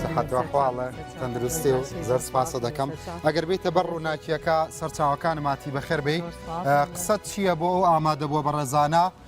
سەحاتواخواڵە تەندروستی و زەر سپاسە دەکەم ئەگەر بیتە بەر ڕووناکیەکە سەرچاوەکانماتی بەخێربی قسە چییە بۆ ئەو ئامادەبووە بە ڕێزانە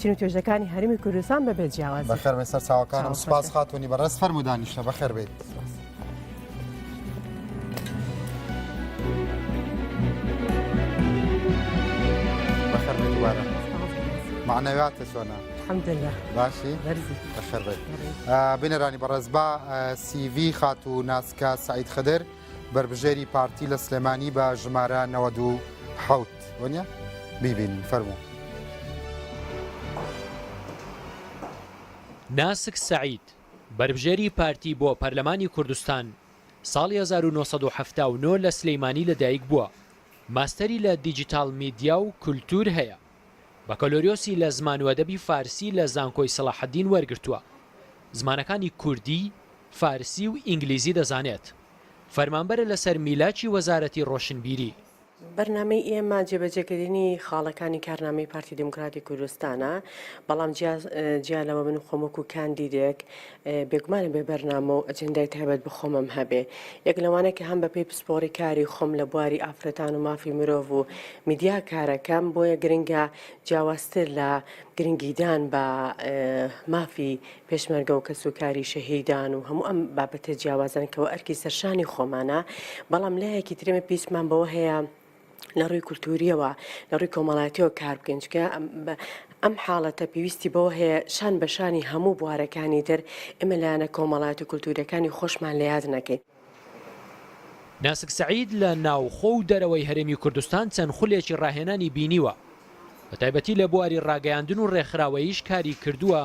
چین و توێژەکانی هەرمی کوردستان بە بێ جیاواز بەخێر بێ سەر چاوەکانم سپاس خاتونی بەڕێز فەرمو دانیشتە بەخێر بێت. معنەواتە چۆنە باشی بەخێر بێت بینەرانی بەڕێز با سیڤی خات و ناسکە سعید خدر بەربژێری پارتی لە سلێمانی بە ژمارە نەوەد و حەوت وەنیە بیبینین فەرموو. ناسک سەعید، بەربژێری پارتی بۆ پەرلەمانی کوردستان، ساڵی هەزار و نۆ سەد و حەفتا و نۆ لە سلیمانی لەدایکبووە، ماستەری لە دیجیتاڵ میدیا و کولتوور هەیە، بەکالۆریۆسی لە زمان و ئەدەبی فارسی لە زانکۆی سەڵاحەدین وەرگرتووە. زمانەکانی کوردی، فارسی و ئینگلیزی دەزانێت. فەرمانبەرە لەسەر میلاکی وەزارەتی ڕۆشنبیری. بەرنامەی ئێمە جێبەجێکردنی خاڵەکانی کارنامەی پارتی دیموکراتی کوردستانە، بەڵام جیا لەوە من خۆم وەکو کاندیدێک بێگومان ئەبێ بەرنامە و ئەجێندای تایبەت بە خۆمم هەبێ. یەک لەوانە کە هەم بەپێی پسپۆڕی کاری خۆم لە بواری ئافرەتان و مافی مرۆڤ و میدیا کارەکەم، بۆیە گرنگە جیاوازتر لە گرنگیدان بە مافی پێشمەرگە و کەسوکاری شەهیدان و هەموو ئەم بابەتە جیاوازەن کەەوە ئەرکی سەرشانی خۆمانە، بەڵام لایەکی ترێمە پێویستمان بەوە هەیە، لە ڕووی کولتوورییەوە لە ڕووی کۆمەڵاتیەوە کار بکەین چکە ئەم حاڵەتە پێویستی بەوە هەیە شان بە شانی هەموو بوارەکانی تر ئمە لایەنە کۆمەڵات و کولتوورەکانی خۆشمان لە یاد نەکەین. ناسک سەعید لە ناوخۆ و دەرەوەی هەرێمی کوردستان چەند خولێکی ڕاهێنانی بینیوە، بەتایبەتی لە بواری ڕاگەیاندن و ڕێکخراوەییش کاری کردووە،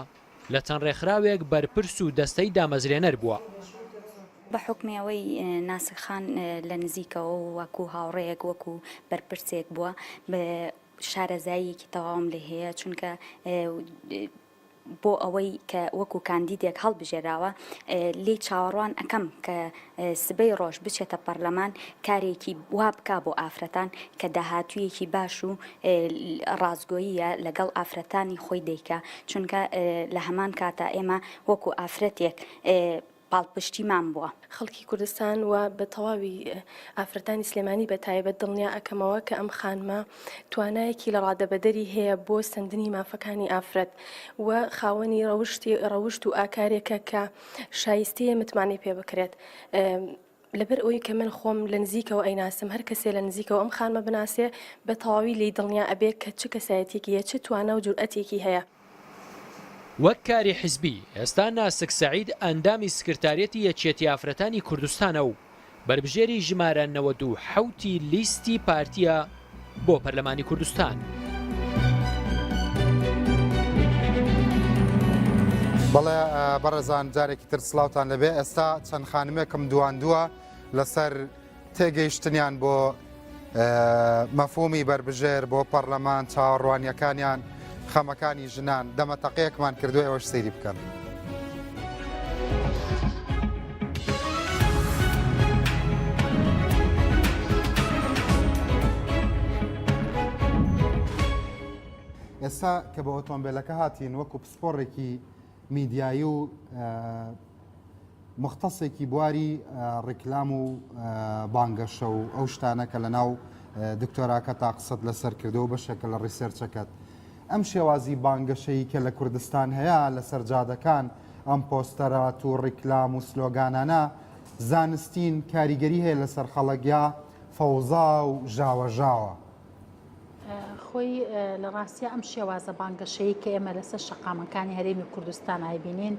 لە چەند ڕێکخراوێک بەرپرس و دەستەی دامەزرێنەر بووە. بە حوکمی ئەوەی ناسک خان لە نزیکەوە و وەکوو هاوڕێیەک وەکوو بەرپرسێک بووە، شارەزاییەکی تەواوم لێ هەیە، چونکە بۆ ئەوەی کە وەکوو کاندیدێک هەڵبژێراوە، لێی چاوەڕوان ئەکەم کە، سبەی ڕۆژ بچێتە پەڕلەمان کارێکی وا بکا بۆ ئافرەتان کە داهاتوویەکی باش و ڕاستگۆییە لەگەڵ ئافرەتانی خۆی دەیکا چونکە لە هەمان کاتا ئێمە وەکو ئافرەتێک پاڵپشتیمان بووە. خەڵکی کوردستان و بە تەواوی ئافرەتانی سلێمانی بە تایبەت دڵنیا ئەکەمەوە کە ئەم خانمە توانایەکی لە ڕادەبەدەری هەیە بۆ سەندنی مافەکانی ئافرەت و خاوەنی ڕەوشتی ڕەوشت و ئاکارێکە کە شایستەیە متمانەی پێ بکرێت. لەبەر ئەوەی کە من خۆم لە نزیکەوە ئەیناسم هەر کەسێ لە نزیکەوە ئەم خانمە بناسێ بە تەواوی لی دڵنیا ئەبێ کە چ کەسایەتیەکی هەیە چ توانا و جورئەتێکی هەیە. وەک کاری حزبی، ئێستا ناسک سەعید ئەندامی سکرتاریەتی یەکیەتی ئافرەتانی کوردستانە و بەربژێری ژمارە نەوەد و حەوت ی لیستی پارتییە بۆ پەرلەمانی کوردستان. بەڵێ بەڕێزان جارێکی تر سلااوان لەبێ ئێستا چەند خانمێکم دواندووە لەسەر تێگەیشتنیان بۆ مەفهومی بەربژێر بۆ پەرلەمان چاوەڕوانیەکانیان خەمەکانی ژنان دەمە تەقەیەکمان کردو ئەوەش سەیری بکەن. ئێستا کە بە ئۆتۆمبیلەکە هاتین وەکو پسپۆڕێکی میدیایی و مختصێکی بواری ڕیکلام و بانگەشە و ئەو شتانە کە لە ناو دکتۆراکە تا قسەت لەسەر کردەوە بەشێکە لە ڕیسێرچەکەت ئەم شێوازی بانگەشەی کە لە کوردستان هەیە لەسەر جادەکان ئەم پۆستەرات و ڕیکلام و سلۆگانانە زانستین کاریگەری هەیە لەسەر خەڵەگیا فەوزا و ژاوەژاوە. خۆی لە ڕاستیا ئەم شێوازە بانگەشەی کە ئێمە لەسەر شەقامەکانی هەرێمی کوردستان ئایبینین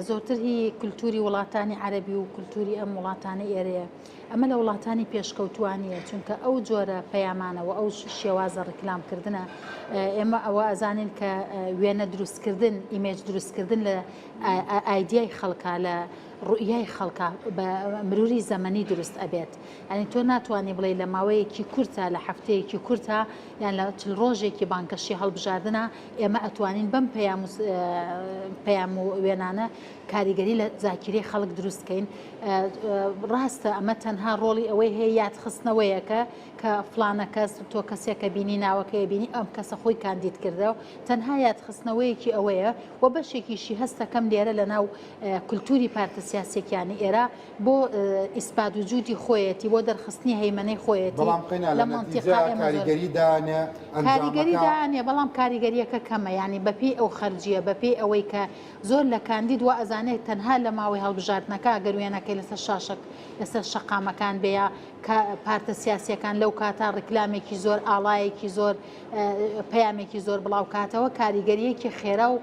زۆرتر هی کولتوری وڵاتانی عەربی و کولتوری ئەم وڵاتانی ئێرەیە ئەمە لە وڵاتانی پێشکەوتوانیە چونکە ئەو جۆرە پەیامانەوە ئەو شێوازە ڕیکلامکردە ئێمە ئەوە ئەزانین کە وێنە دروستکردن ئیمێج دروستکردن لە ئایدیای خەڵکە لە ڕوئیای خەڵکە بە مروری زەمەنی دروست ئەبێت یانی تۆ ناتوانی بڵێ لە ماوەیەکی کورتە لە هەفتەیەکی کورتە یان لە چل ڕۆژێکی بانگەشی هەڵبژاردنە ئێمە ئەتوانین بەم پەیام پەیام و وێنانە کاریگەری لە زاکیری خەڵک دروستکەین ڕاستە ئەمە تەنها ڕۆڵی ئەوەی هەیە یاد خستنەوەیەکە کە فلانە کەس تۆ کەسێکە بینی ناوەکەی بینی ئەم کەسە خۆی کاندید کردەوە تەنها یاد خستنەوەیەکی ئەوەیە و بەشێکیشی هەستەکەم لێرە لە ناو کولتوری پارتە سیاسیەکیانی ئێرە بۆ ئیسپاد و جوودی خۆیەتی بۆ دەرخستنی هەیمەەی خۆیەتی کاریگەریدانە بەڵام کاریگەریەکە کەمە ینی بەپی ئەو خەرجیە بەپی ئەوەی کە زۆر لە کاندید و ئەزانێت تەنها لە ماوەی هەڵبژاردنەکە گەروێنەکەی لەسەر شاشک لەسەر شەقامەکان بێە کە پارتە سیاسیەکان لەو کاتا ڕیکلامێکی زۆر ئاڵایەکی زۆر پەیامێکی زۆر بڵاوکاتەوە کاریگەریەکی خێرا و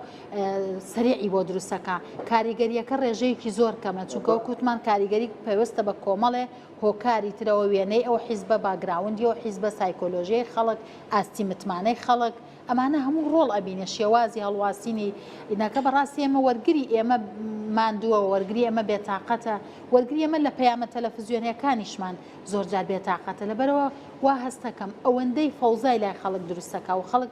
سەریعی بۆ دروستەکە کاریگەریەکە ڕێژەیەکی زۆر کەمە چونکەوە کووتمان کاریگەری پێوەستە بە کۆمەڵێ هۆکاری ترەوە وێنەی ئەو حیزبە باگراوندی و حیزبە سایکۆلۆژیای خەڵک ئاستی متمانەی خەڵک ئەمانە هەموو ڕۆڵ ئەبینە شێوازی هەڵواسینی ئینەکە بەڕاستی ئێمە وەرگری ئێمە ماندووە وەرگری ئەمە بێتاقەتە وەرگری ئەمە لە پەیامە تەلەفزیۆنیەکانیشمان زۆرجار بێتاقەتە لەبەرەوە وا هەستەکەم ئەوەندەی فەوزای لای خەڵک دروستەکە و خەڵک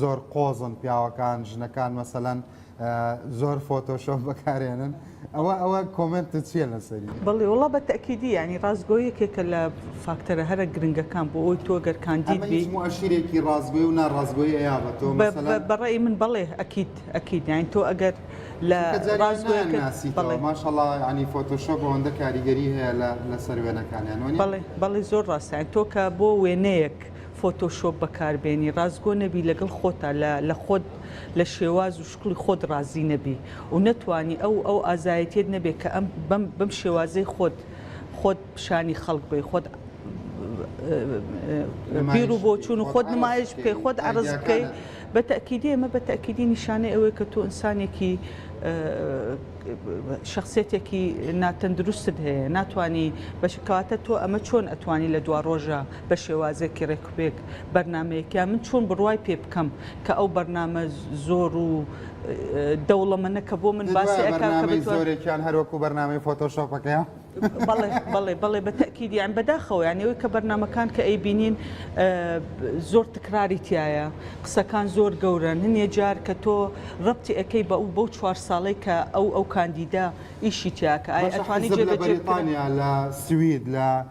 زۆر قۆزن پیاوەکان ژنەکان مەسەلەن زۆر فۆتۆشۆپ بەکارێنن ئەوە ئەوە کۆمنت چییە لەسەری بەڵێ وڵا بە تەکیدی ینی ڕاستگۆ یەکێکە لە فاکتەرە هەرە گرنگەکان بۆ ئەوی تۆ گەر کاندید بی موعشیرێکی ڕاستگۆی و ناڕاستگۆی ئەیا بە تۆ بەڕێی من بەڵێ ئەکییت ئەکییت یان تۆ ئەگەر لە ڕاستگۆناسیڵێ ماشەڵا ینی فۆتۆشۆپ ئەوەندە کاریگەری هەیە لە لەسەر وێنەکانیان بەڵێ بەڵێ زۆر ڕاستیان تۆ کە بۆ وێنەیەک فۆتۆشۆپ بەکاربێنی ڕاستگۆ نەبی لەگەڵ خۆتا لە لە خۆت لە شێواز و شکڵی خۆت ڕازی نەبی و نەتوانی ئەو ئەو ئازایەتیەت نەبێ کە ئەم بەم بەم شێوازەی خۆت خۆت پیشانی خەڵک بەی خۆت بیر و بۆچوون و خۆت نمایش بکەی خۆت عەڕز بکەی بە تەئکیدی ئەمە بە تەئکیدی نیشانەی ئەوەیە کە تۆ ئینسانێکی شەخسیەتێکی ناتەندروستت هەیە ناتوانی بەش کەواتە تۆ ئەمە چۆن ئەتوانی لە دوا ڕۆژە بە شێوازێکی ڕێکوپێک بەرنامەیەکیان من چۆن بڕوای پێ بکەم کە ئەو بەرنامە زۆر و دەوڵەمەنە کە بۆ من باسی ئەکەم زۆرێکیان هەروەکو بەرنامەی فۆتۆشۆپەکەیان بەڵێ بەڵێ بەڵێ بە تەکیدیان بەداخەوەیان ئەوەی کە بەرنمەکان کە ئەی بینین زۆر تکراری تایە قسەکان زۆر گەورە ننیە جار کە تۆ ڕەتی ئەەکەی بە ئەو بەو چوار ساڵی کە ئەو ئەو کاندیدا ئیشی تیاکە ئایا ئەتوانی جێ بەریتانیا لە سوید لە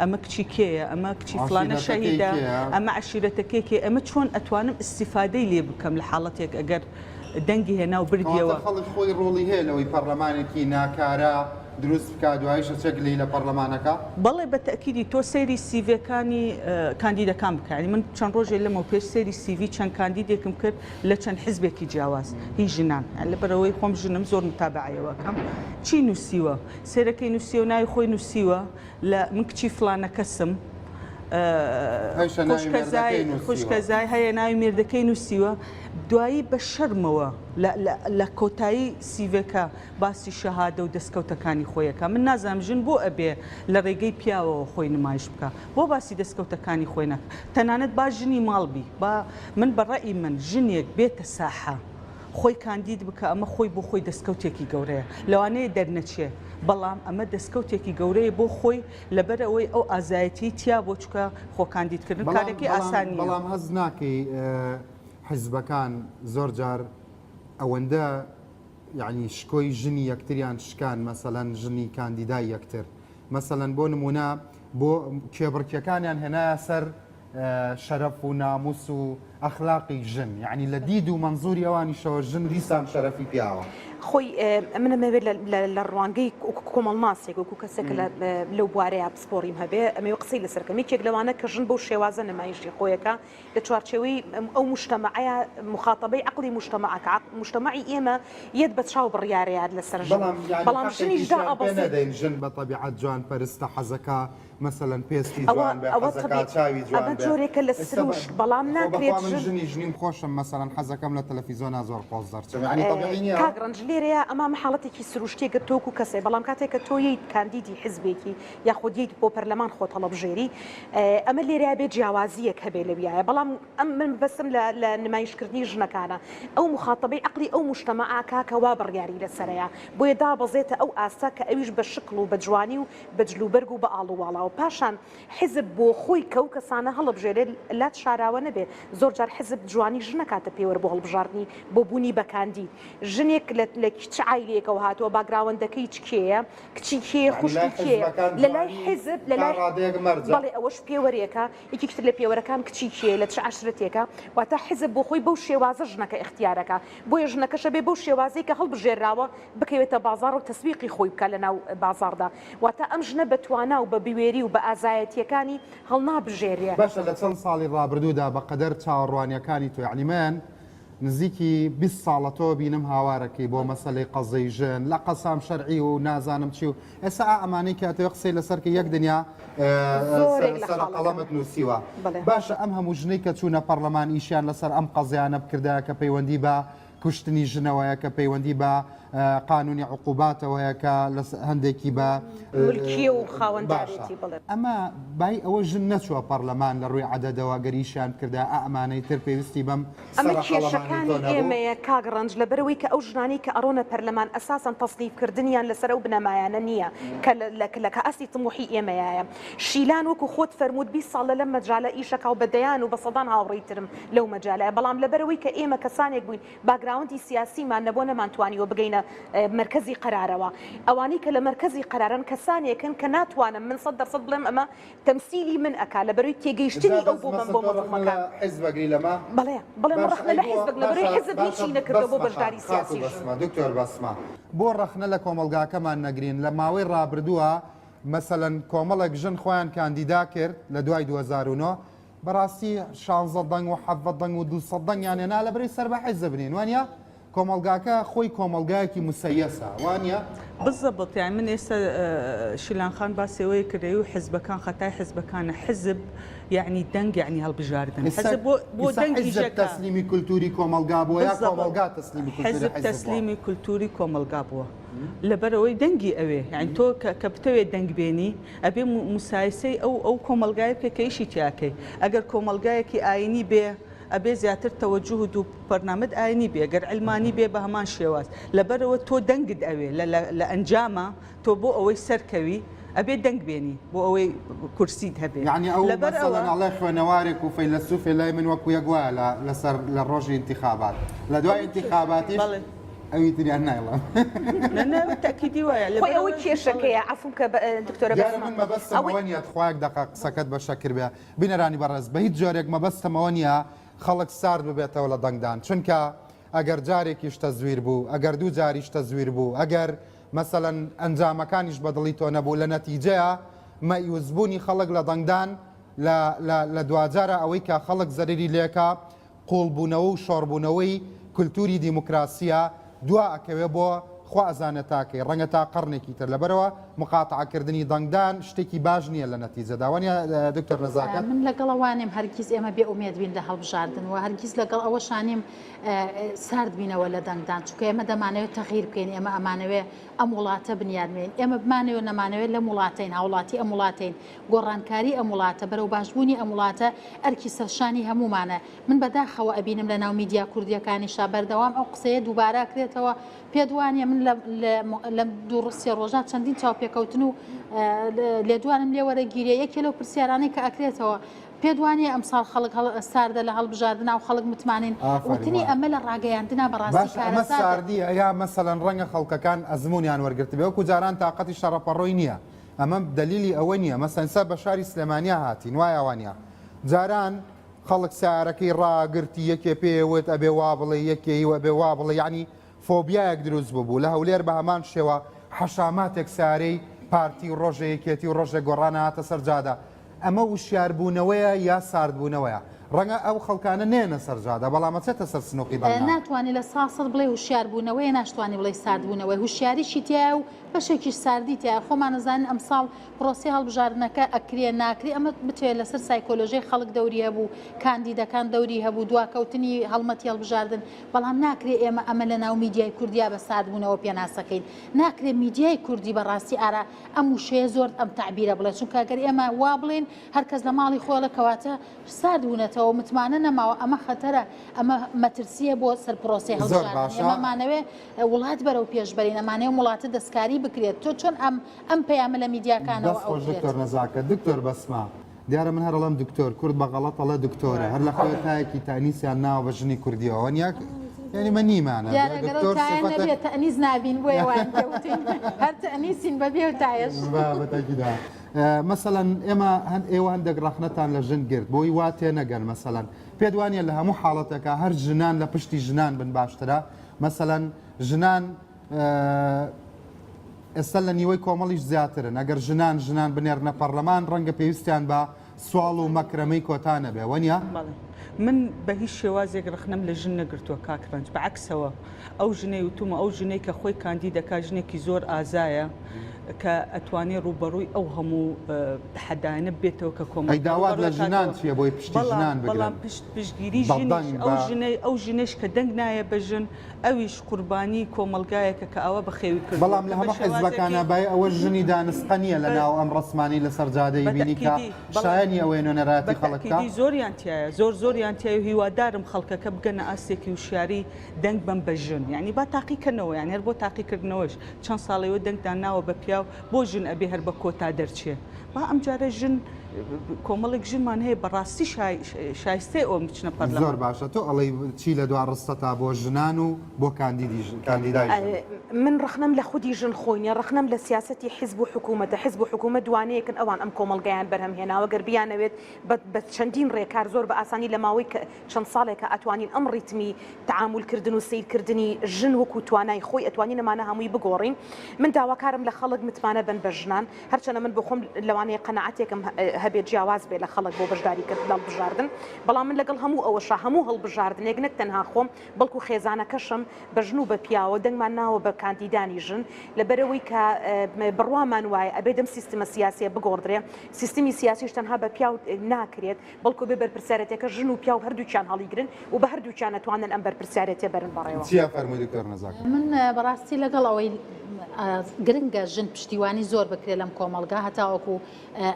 ئەمە کچی کێیە ئەمە کچی فلانە شەهیدە ئەمە عەشیرەتەکەی کێ ئەمە چۆن ئەتوانم ئیسیفادەی لێ بکەم لە حاڵەتێک ئەگەر دەنگی هێنا و بردیەوە خەڵک خۆی ڕۆڵی هەیە لەوەی پەرلەمانێکی ناکارا دروست بکا دوایشە چەک لێی لە پەرلەمانەکە بەڵێ بە تەئکیدی تۆ سەیری سیڤەکانی کاندیدەکان بکەنی من چەند ڕۆژێ لەمەو پێش سەیری سیڤی چەند کاندیدێکم کرد لە چەند حزبێکی جیاواز هی ژنان لە بەرەوەی خۆم ژنم زۆر متابعەیەوەکەم چی نووسیوە سێرەکەی نووسیەوە ناوی خۆی نووسیوە لە من کچی فلانە کەسم. هەمیشە ناوی خوشکە مێردەکەی زای نووسیوە. خوشکە زای هەیە ناوی مێردەکەی نووسیوە دوایی بە شەرمەوە لە لە لە کۆتایی سیڤەکە باسی شەهادە و دەسکەوتەکانی خۆی ئەکا من نازانم ژن بۆ ئەبێ لە ڕێگەی پیاوەوە خۆی نمایش بکا بۆ باسی دەسکەوتەکانی خۆی ناکا تەنانەت با ژنی ماڵ بی با من بە ڕەئی من ژنێک بێتە ساحە خۆی کاندید بکا ئەمە خۆی بۆ خۆی دەستکەوتێکی گەورەیە لەوانەیە دەرنەچێ بەڵام ئەمە دەستکەوتێکی گەورەیە بۆ خۆی لەبەر ئەوەی ئەو ئازایەتی تیا بۆ چکە خۆ کاندیدکردن کارێکی ئاسان نیە. بەڵام هەست ناکەی حزبەکان زۆر جار ئەوەندە یعنی شکۆی ژنی یەکتریان شکان مەسەلەن ژنی کاندیدای یەکتر مەسەلەن بۆ نمونە بۆ کێبڕکیەکانیان هێنایە سەر شەرەف و ناموس و ئەخلاقی ژن یعنی لە دید و مەنزوری ئەوانیشەوە ژن دیسان شەرەفی پیاوە خۆی منە مەوێت لە ڕوانگەی کۆمەڵناسێک وەکو کەسێک لەو بوارەیە پسپۆریم هەبێ ئەمێ قسەی لەسەر کەمێکێک لەوانە کە ژن بەو شێوازە نمایشی خۆیەکە لە چوارچەوەی ئەو مشتەمەعەیە مخاتەبەی عقلی مشتەمەعەکە مشتەمەعی ئێمە یەت بە چاو بڕیارەیە لەسەر بەڵام ژنیشدا ژن بە طبیعت جوان پەرستە حەزەکە مەسەلەن پێستی جوان بێ حەزەکا چاوی جوان بێ ئەوە جۆرێکە لە سروشت بەڵام ناکرێت ژن بەخوا من ژنی ژنیم خۆشم مەسەلەن حەزەکەم لە تەلەفیزۆنا زۆر قۆز دەرچم یانی تەبیعی نیە کاک ڕەنج لێرەیا ئەمە حاڵەتێکی سروشتیە گەر تۆکو کەسێ بەڵام کاتێک کە تۆ یەیت کاندیدی حزبێکی یاخود یەیت بۆ پەرلەمان خۆت هەڵەبژێری ئەمە لێرەیا بێ جیاوازیەک هەبێ لەویایە بەڵام ئەم من بەسم لە نمایشکردنی ژنەکانە ئەو مخاتەبەی عەقڵی ئەو مشتەمەعە کاکە وا بڕیاری لەسەرەیە بۆیە دابەزێتە ئەو ئاستە کە ئەویش بە شکڵ و بە جوانی و بە جلوبەرگ و بە ئاڵ و واڵاوە پاشان حیزب بۆ خۆی کە و کەسانە هەڵەبژێرێ لات شاراوە نەبێ زۆر جار حیزب جوانی ژن نەکاتە پێوەر بۆ هەڵبژاردنی بۆ بوونی بە کاندید ژنێک لە لە چ عایلەیەکەوە هاتووە باگراوەندەکەی چ کێیە کچی کێیە یانی لای خوشکی کێیە حیزبەکان لە لای جوانی حیزب لە تا لای ڕادەیەک مەرجە. بەڵێ ئەوەش پێوەرێکە. یەکێکی تر لە پێوەرەکان کچی کێیە لە چ عەشرەتێکە واتە حیزب بۆ خۆی بەو شێوازە ژنەکە ئیختیارەکا بۆیە ژنەکەشە بێ بەو شێوازەی کە هەڵبژێراوە بکەوێتە بازاڕ و تەسویقی خۆی بکا لەناو بازاڕدا واتە ئەم ژنە بە توانا و بە بوێری و بە ئازایەتیەکانی هەڵنابژێرێ. باشە لە چەند ساڵی ڕابردوودا بەقەدەر چاوەڕوانیەکانی تۆ یەعنی من، نزیکی بیست ساڵە تۆ بینم هاوارەکەی بۆ مەسەلەی قەزەی ژن لە قەسام شەرعی و نازانم چی و ئێسا ئەمانەی کە ئەتەوێ قسەی لەسەر کە یەک دنیا قەڵەمت نووسیوە باشە ئەم هەموو ژنەی کە چوونە پەرلەمان ئیشیان لەسەر ئەم قەزیانە بکردایە کە پەیوەندی بە کوشتنی ژنەوەیە کە پەیوەندی بە قانونی عقوباتەوەیە کە لە هەندێکی بە ملکیە و خاوەندارێتی بڵێ ئەمە بای ئەوە ژن نەچووە پەرلەمان لە ڕووی عادەدەوە گەریشان کردە ئەمانەی تر پێویستی بەم ئەمە کێشەکانی ئێمەیە کاک ڕەنج لە بەرەوەی کە ئەو ژنانی کە ئەڕۆنە پەرلەمان ئەساسەن تەسنیفکردنیان لەسەر ئەو بنەمایانە نییە کە لە کە ئەستی تموحی ئێمەیایە شیلان وەکو خۆت فەرمووت بی ساڵە لەم مەجالە ئیشەکە و بە دەیان و بە سەدان هاوڕی ترم لەو مەجالە بەڵام لە بەرەوەی کە ئێمە کەسانێک بووین باکگراوندی سیاسیمان نەبووە نەمانتوانیوە بگەینە مەرکەزی قەرارەوە، ئەوانەی کە لە مەرکەزی قەرارن کەسانێکن کە ناتوانم من سەد دەر سەد بڵێم ئەمە تەمسیلی من ئەکات لەبەروی تێگەیشتنی ئەو بۆ من بۆ مەفهومەکان. بەڵێ بەڵێ من ڕەخنە لە حیزبەک لەبەروی حیزب هیچی نەکردوە بۆ بەشداری سیاسیش. بۆ ڕەخنە لە کۆمەڵگاکەمان نەگرین لە ماوەی ڕابردووە مەسەلەن کۆمەڵێک ژن خۆیان کاندیدا کرد لە دوای دووەزار و نۆ بەراستی شانزە دەنگ و حەڤدە دەنگ و دوسەد دەنگ یان هێنا لە بەرەی سەر بە حیزب نین وانە کۆمەلگاکە خۆی کۆمەلگایەکی مسەیەسە وانە بزەبت یان من ئێستا شیلان خان باسەوەی کردەی و حزبەکان خەتای حزبەکانە حزب یعنی دەنگ یعنی هەڵبژاردن حزب بۆ دەنگی ژە تەسلیمی کولتوری کۆمەلگا بۆ یا کۆمەلگا تەسلیمی حزب تەسلیمی کولتوری کۆمەلگا بووە لەبەرەوەی دەنگی ئەوێ یعنی تۆ کە بتەوێت دەنگ بێنی ئەبێ موسایسەی ئەو ئەو کۆمەڵگایە بکەی کە ئیشی تیا کەی ئەگەر کۆمەڵگایەکی ئاینی بێ ئەبێ زیاتر تەوەجوه و دوو پەرنامەت ئاینی بێ گەر علمانی بێ بەهەمان شێواز لەبەرئەوە تۆ دەنگت ئەوێ لە لە لە ئەنجاما تۆ بۆ ئەوەی سەرکەوی ئەبێ دەنگ بێنی بۆ ئەوەی کورسیت هەبێ یەعنی ئەو لەبەر مەسەڵەن ئەوە ئەڵێ خوێنەوارێک و فەیلەسوفێ لای من وەکو یەک وایە لە لەسەر لە ڕۆژی ئینتیخابات لەدوای ئینتیخاباتیش بەڵێ ئەوی تریان نایڵێم خۆی ئەوە کێشەکەیە عفوم کە دکتۆرە مەبەستەوە نیە خوایەک دەقە قسەکەت بە شەکر بێ بینەرانی بەڕێز بە هیچ جۆرێک مەبەستەمەوە نیە خەڵک سارد ببێتەوە لە دەنگدان چونکە ئەگەر جارێکیش تەزویر بوو ئەگەر دوو جاریش تەزویر بوو ئەگەر مەسەەن ئەنجامەکانیش بەدڵی تۆ نەبوو لە نەتیجەیە مەیوزبوونی خەڵک لە دەنگدان لە دواجارە ئەوەی کە خەڵک زەریری لێکە قوڵبوونەوە و شۆڕبوونەوەی کولتووری دیموکراسییە دوا ئەکەوێ بۆ خوا ئەزانێ تا کەی، ڕەنگە تا قەڕنێکی تر، لەبەرئەوە مقاتعە کردنی دەنگدان شتێکی باش نییە لە نەتیجەدا وانییە دکتۆر نەزاکەت؟ من لەگەڵ ئەوە نیم هەرگیز ئێمە بێ ئومێد بین لە هەڵبژاردن و هەرگیز لەگەڵ ئەوەشا نیم سارد بینەوە لە دەنگدان چونکە ئێمە دەمانەوێت تەغیر بکەین ئێمە ئەمانەوێ ئەم وڵاتە بنیاد بنێین ئێمە بمانەوێت نەمانەوێت لەم وڵاتەین هاوڵاتی ئەم وڵاتەین گۆڕانکاری ئەم وڵاتە، بەرەو باشبوونی ئەم وڵاتە ئەرکی سەرشانی هەموومانە، من بە داخەوە ئەبینم لە ناو میدیا کوردییەکانیشا بەردەوام ئەو قسەیە دووبارە ئەکرێتەوە، پێت وانیە من لەم دوو سێ ڕۆژە چەندین چاوپێکەوتن و لێدوانم لێ وەرەگیرێ، یەکێ لەو پرسیارانەی کە ئەکرێتەوە پێت وانیە ئەمساڵ خەڵک ساردە لە هەڵبژاردنا و خەڵک متمانەین، وتنی ئەمە لە ڕاگەیاندنا بە ڕاستی کارەساتە. باشە ئەمە ساردییە یا مەسەلەن ڕەنگە خەڵکەکان ئەزموونیان وەرگرتبێ، وەکو جاران تاقەتی شەڕەپەڕۆی نییە، ئەمە دەلیلی ئەوە نیە مەسەن ئیستا بە شاری سلێمانیا هاتین وایە وانیە جاران خەڵک سارەکەی ڕاگرتی یەکێ پێوت ئەبێ وا بڵێ یەکێی و ئەبێ وا بڵێ یعنی فۆبیایەک دروست ببوو لە هەولێر بە هەمان شێوە حەشاماتێک سارەی پارتی و ڕۆژە یەکێتی و ڕۆژە گۆڕانە هاتە سەر جادە ئەمە وشیاربوونەوەیە یا ساردبوونەوەیە؟ ڕەنگە ئەو خەڵکانە نەیەنە سەر جادە، بەڵام ئەچێتە سەر سنووقی بەرنامە. ناتوانی لە سا سەد بڵێی وشیاربوونەوەیە، ناشتوانی بڵێی ساردبوونەوەیە. هوشیاریی تیایە و بەشێکیش ساردی تیایە. خۆمان ئەزانین ئەمساڵ پرۆسەی هەڵبژاردنەکە ئەکرێ، ناکرێ، ئەمە بتەوێت لەسەر سایکۆلۆژیای خەڵک دەوری هەبوو، کاندیدەکان دەوری هەبوو، دواکەوتنی هەڵمەتی هەڵبژاردن، بەڵام ناکرێ ئێمە ئەمە لەناو میدیای کوردیا بە ساردبوونەوە پێناسەکەین. ناکرێ میدیای کوردی بەڕاستی ئارا ئەم وشەیە زۆر ئەم تعبیرە بڵێ چونکە گەر ئێمە وا بڵێن هەرکەس لە ماڵی خۆڵە کەواتە سارد بوونەتەوە متمانە نەماوە ئەمە خەتەرە ئەمە مەترسیە بۆ سەر پرۆسی هەڵمانەوێ وڵات بەرە و پێشبەرین ئەمانەیە وڵاتە دەستکاری بکرێت تۆ چۆن ئەم ئەم پەیامە لە میدیاکانەوە دکتۆر نەزاکە دکتۆر بەسما دیارە من هەر ئەڵێم دکتۆر کورد بە غەڵەت ئەڵێ دکتۆرە هەر لە خۆی تایەکی تانیسیان ناوە بە ژنی کوردیەوە وەنیاک یعنی مە نیمانە تەنیز نابین بۆ هەر تەنیسین بە بێ تایش مەسەەن ئێمە هەند ئێوە هەندێک ڕخنەتان لە ژن گرت بۆی وا تێ نەگەن مەسەەن پێدوانە لە هەموو حاڵەتەکە هەر ژنان لە پشتی ژنان بن باشترە مەسەەن ژنان ئێستا لە نیوەی کۆمەڵیش زیاترن ئەگەر ژنان ژنان بنێرنە پەرلەمان ڕەنگە پێویستیان بە سواڵ و مەکرەمەی کۆتانە بێ وەنیا من بە هیچ شێوازێک ڕخنم لە ژن نەگرتووە کاکڕنج بەعکسەوە ئەو ژنەی وتومە ئەو ژنەی کە خۆی کاندی دەکا ژنێکی زۆر ئازایە کە ئەتوانێ ڕوبەڕووی ئەو هەموو تحدایانە بێتەوە کە کۆمەڵ داوات لە ژنان چیە بۆی پشتی ژنان بەڵام پشت پشتگیری ژنان ئەو ژنەی ئەو ژنش کە دەنگ نایە بە ژن ئەویش قوربانی کۆمەڵگایەکە کە ئاوا بەخێوی کردووە، بەڵام لە کە بە هەموو شێوازێکی حیزبەکانا بای ئەوە ژنی دانسقە نییە لە ناو ئەم ڕەسمانەی لە سەر جادە ی بە بینی کە تەئکیدی، بەڵێ. شایەنی ئەوەیە نوێنەرایەتی بە خەڵک کا. تەئکیدی زۆریان تیایە، زۆر زۆریان تیایە و هیوادارم خەڵکەکە بگەنە ئاستێکی وشیاری دەنگ بەن بە ژن، یانی با تاقی کەنەوە، یانی هەر بۆ تاقی کردنەوەش چەند ساڵەی وە دەنگتان ناوە بە پیاو، بۆ ژن ئەبێ هەر بە کۆتا دەرچێ؟ با ئەمجارە ژن کۆمەڵێک ژنمان هەیە بەڕاستی شایستەی ئەوەن بچنە پەرلەمان. زۆر باشە تۆ ئەڵێی چی لە دوا ڕستەتا بۆ ژنان و بۆ کاندیدی ژن کاندیدای ژن. من ڕەخنەم لە خودی ژن خۆی نیە ڕەخنەم لە سیاسەتی حیزب و حکومەتە حیزب و حکومەت دوانەیەکن ئەوان ئەم کۆمەڵگایان بەرهەم هێناوە گەر بیانەوێت بە چەندین ڕێکار زۆر بە ئاسانی لە ماوەی چەند ساڵێکە ئەتوانین ئەم ڕیتمی تەعامول کردن و سەیر کردنی ژن وەکو توانای خۆی ئەتوانین ئەمانە هەمووی بگۆڕین من داواکارم لە خەڵک متمانە بەن بە ژنان هەرچەنە من بۆخۆم لەوانەیە قەناعەتێکم هەبێ جیاواز بێ لە خەڵک بۆ بەشداری کرد لەڵ بژاردن بەڵام من لەگەڵ هەموو ئەوەشە هەموو هەڵبژاردنێک نەک تەنها خۆم بەڵکو خێزانەکەشم بە ژن و بە پیاوە دەنگمان ناوە بە کاندیدانی ژن لەبەرەوەی کە بڕوامان وایە ئەبێ دەم سیستمە سیاسیە بگۆڕدرێ سیستمی سیاسیش تەنها بە پیاو ناکرێت بەڵکو بێ بەرپرسیارێتیەکە ژن و پیاو هەردووکیان هەڵیگرن و بە هەردووکیان ئەتوانن ئەم بەرپرسیارێتیە بەرن بەڕێوە. چیا فەرمووی دکتۆر نەزاکە. من بەڕاستی لەگەڵ ئەوەی گرنگە ژن پشتیوانی زۆر بکرێ لەم کۆمەڵگا هەتاوەکو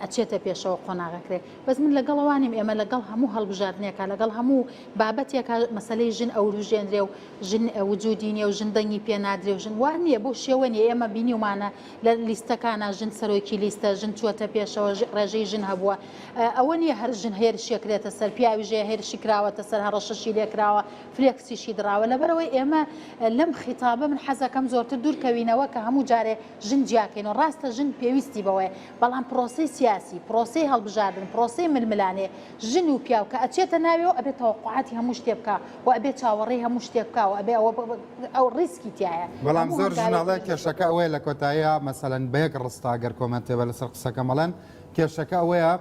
ئەچێتە پێشەوە قۆناغە کرێ بەس من لەگەڵ ئەوانیم ئێمە لەگەڵ هەموو هەڵبژاردنێکە لەگەڵ هەموو بابەتێکە مەسلەی ژن ئەوروژێنرێ و ژن وجودی نیە و ژن دەنگی پێ نادرێ و ژن وان نیە بۆ شێوە نیە ئێمە بینیومانە لە لیستەکانا ژن سەرۆکی لیستە، ژن چووەتە پێشەوە، ڕێژەی ژن هەبووە. ئەوە نییە هەر ژن هێرشی ئەکرێتە سەر، پیاویش هەیە هێرشی کراوەتە سەر، هەڕەشەشی لێ کراوە، فلێکسیشی دڕاوە. لەبەرئەوەی ئێمە لەم خیتابە من حەز ئەکەم زۆرتر دوور کەوینەوە کە هەموو جارێ ژن جیا کەینەوە. ڕاستە ژن پێویستی بەوەیە، بەڵام پرۆسەی سیاسی، پرۆسەی هەڵبژاردن، پرۆسەی ململانێ، ژن و پیاو کە ئەچێتە ناوێوە ئەبێ تەوەقوعاتی هەموو شتێ بکا و ئەبێ چاوەڕێی هەموو شتێ بکا و ئەبێ ئەوە ئەو ڕیسکی تیایە بەڵام زۆر ژن ئەڵێ کێشەکە ئەوەیە لە کۆتاییا مەسەلەن بە یەک ڕستە گەر کۆمێنتێ بە لەسەر قسەکەم ئەڵێن کێشەکە ئەوەیە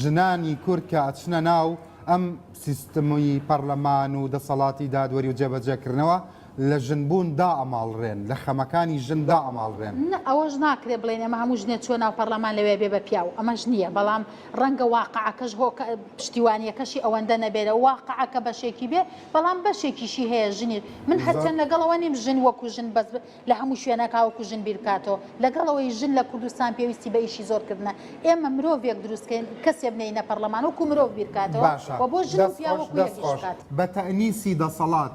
ژنانی کورد کە ئەچنە ناو ئەم سیستمی پەڕلەمان و دەسەڵاتی دادوەری و جێبەجێکردنەوە لە ژنبوون دائەماڵرێن، لە خەمەکانی ژن دائەماڵرێن. نە ئەوەش ناکرێ بڵێین ئەمە هەموو ژنێ چووە ناو پەڕلەمان لەوێ بێ بە پیاو، ئەمەش نییە، بەڵام ڕەنگە واقعەکەش هۆکا پشتیوانییەکەشی ئەوەندە نەبێ لە واقعەکە بەشێکی بێ، بەڵام بەشێکیشی هەیە ژنی من هەرچەند لەگەڵ ئەوە نیم ژن وەکوو ژن بەس لە هەموو شوێنەکا وەکوو ژن بیر بکاتەوە، لەگەڵ ئەوەی ژن لە کوردستان پێویستی بە ئیشی زۆر کردنە، ئێمە مرۆڤێک دروست کەین کەسێ بنێینە پەڕلەمان وەکوو مرۆڤ بیر کاتەوە و بۆ ژن و پیاو وەکوو یەک ئیش بکات. بە تەئنیسی دەسەڵات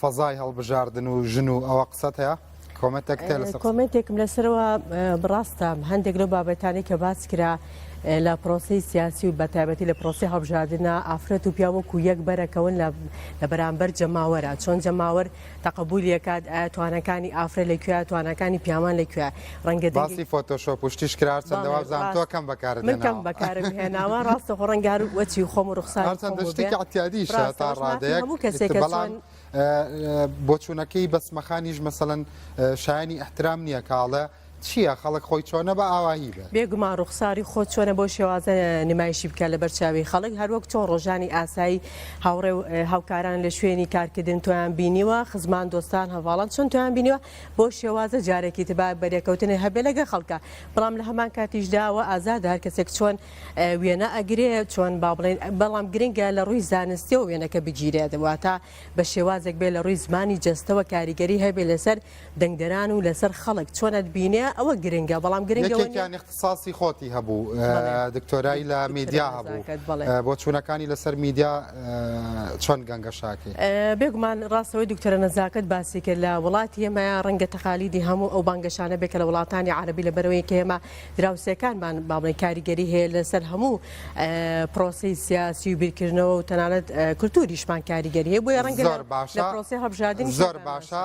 فەزای هەڵبژاردن و ژن و ئەوە قسەت هەیە؟ کۆمنتێک تێ لەسەر قسە. کۆمنتێکم لەسەرەوە اه، بڕاستە هەندێک لەو بابەتانەی کە باس کرا اه، لە پرۆسەی سیاسی و بە تایبەتی لە پرۆسەی هەڵبژاردنا ئافرەت و پیاو وەکو یەک بەرەکەون لە لە بەرامبەر جەماوەرە چۆن جەماوەر تەقبولیەکات ئایا توانەکانی ئافرەت لەکوێ توانەکانی پیاوان لەکوێ ڕەنگە باسی فۆتۆشۆپ و شتیش کرار چەندە وابزان تۆ کەم بەکار کەم بەکارم هێناوە ڕاستە خۆ ڕەنگار وەچی خۆم و ڕخسار چەندە شتێکی عتیادیش تا ڕادەیە هەموو کەسێک بەڵام بۆچوونەکەی بەسمەخانیش مەسەەن شایانی احترام نییە کاڵە چییە خەڵک خۆی چۆنە بە ئاواهی بێ بێگومان ڕوخساری خۆ چۆنە بۆ شێوازە نمایشی بکە لە بەرچاوی خەڵک هەروەک چۆن ڕۆژانی ئاسایی هاوڕێ و هاوکاران لە شوێنی کارکردن تۆیان بینیوە خزمان دۆستان هەواڵان چۆن تۆیان بینیوە بۆ شێوازە جارێکی تر با بەرێکەوتنێ هەبێ لەگە خەڵکا بەڵام لە هەمان کاتیشدا و ئازادە هەر کەسێک چۆن وێنە ئەگرێ چۆن با بڵێن بەڵام گرنگە لە ڕووی زانستیەوە وێنەکە بگیرێت واتە بە شێوازێک بێ لە ڕووی زمانی جەستەوە کاریگەری هەبێ لەسەر دەنگدەران و لەسەر خەڵک چۆنت بینێ ئەوە گرنگە بەڵام گرنگەوە ساسی خۆتی هەبوو دکتۆرای لە میدیا هەبوو بۆ چوونەکانی لەسەر میدیا چۆن گەنگە شاکی بێگومان ڕاستەوەی دکتۆرە نەزاکت باسی کرد لە وڵاتی ئێمە ڕەنگە تەقالیدی هەموو ئەو بانگەشانە بێکە لە وڵاتانی عربی لە بەرەوەی کە ئێمە دراوسەکانمان بابڵی کاریگەری هەیە لەسەر هەموو پرۆسی سیاسی و بیرکردنەوە و تەنانەت کللتوریشمان کاریگەری هەیە بۆ ڕەنگە پرۆسی هەبژادن زۆر باشە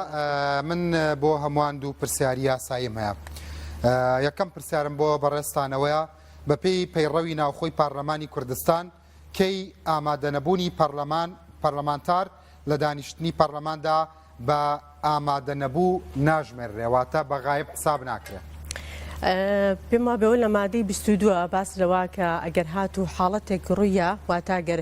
من بۆ هەمووان دوو پرسیاری یاساییم هەیە. یەکەم پرسیارم بۆ بەڕێزتانەوەیە، بەپێی پەیڕەوی ناوخۆی پارلەمانی کوردستان کەی ئامادەنەبوونی پارلەمان پارلەمانتار لە دانیشتنی پارلەماندا بە ئامادەنەبوو ناژمێررێ واتە بە غایب حساب ناکرێ؟ پێم وا بەوە لە مادەی 22 باس لەوە کە ئەگەر هات و حاڵەتێک ڕوویە واتاگەر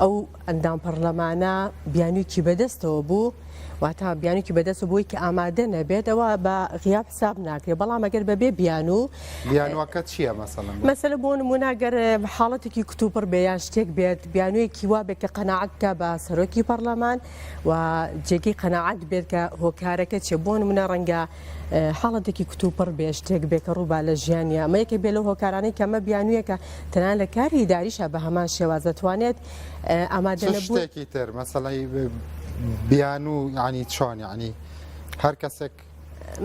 ئەو ئەندام پەڕلەمانە بیانویکی بەدەستەوە بوو واتا بیانویکی بەدەست بۆی کە ئامادە نەبێت ئەوە بە غیاب حساب ناکرێت بەڵام ئەگەر بەبێ بیانوو بیانوەکە چییە مەسەڵم مەسەلە بۆ نموناگەر حاڵەتێکی کتوپڕ بێ یان شتێک بێت بیانویەکی وا بێت کە قەنەعات بکە بە سەرۆکی پەرلەمان و جێگەی قەنەعات بێت کە هۆکارەکە چێ بۆ نمونە ڕەنگە حاڵەتێکی کتوپڕ بێ شتێک بێ کە ڕووبا لە ژیانە ئەمەیەکە بێ لە هۆکارانەی کەمە بیانویەکە تەنان لە کاری داریشە بە هەمان شێوازەتوانێت ئامادە شتێکی تر مەسەڵی بیان و ینی چۆن ینی هەر کەسێک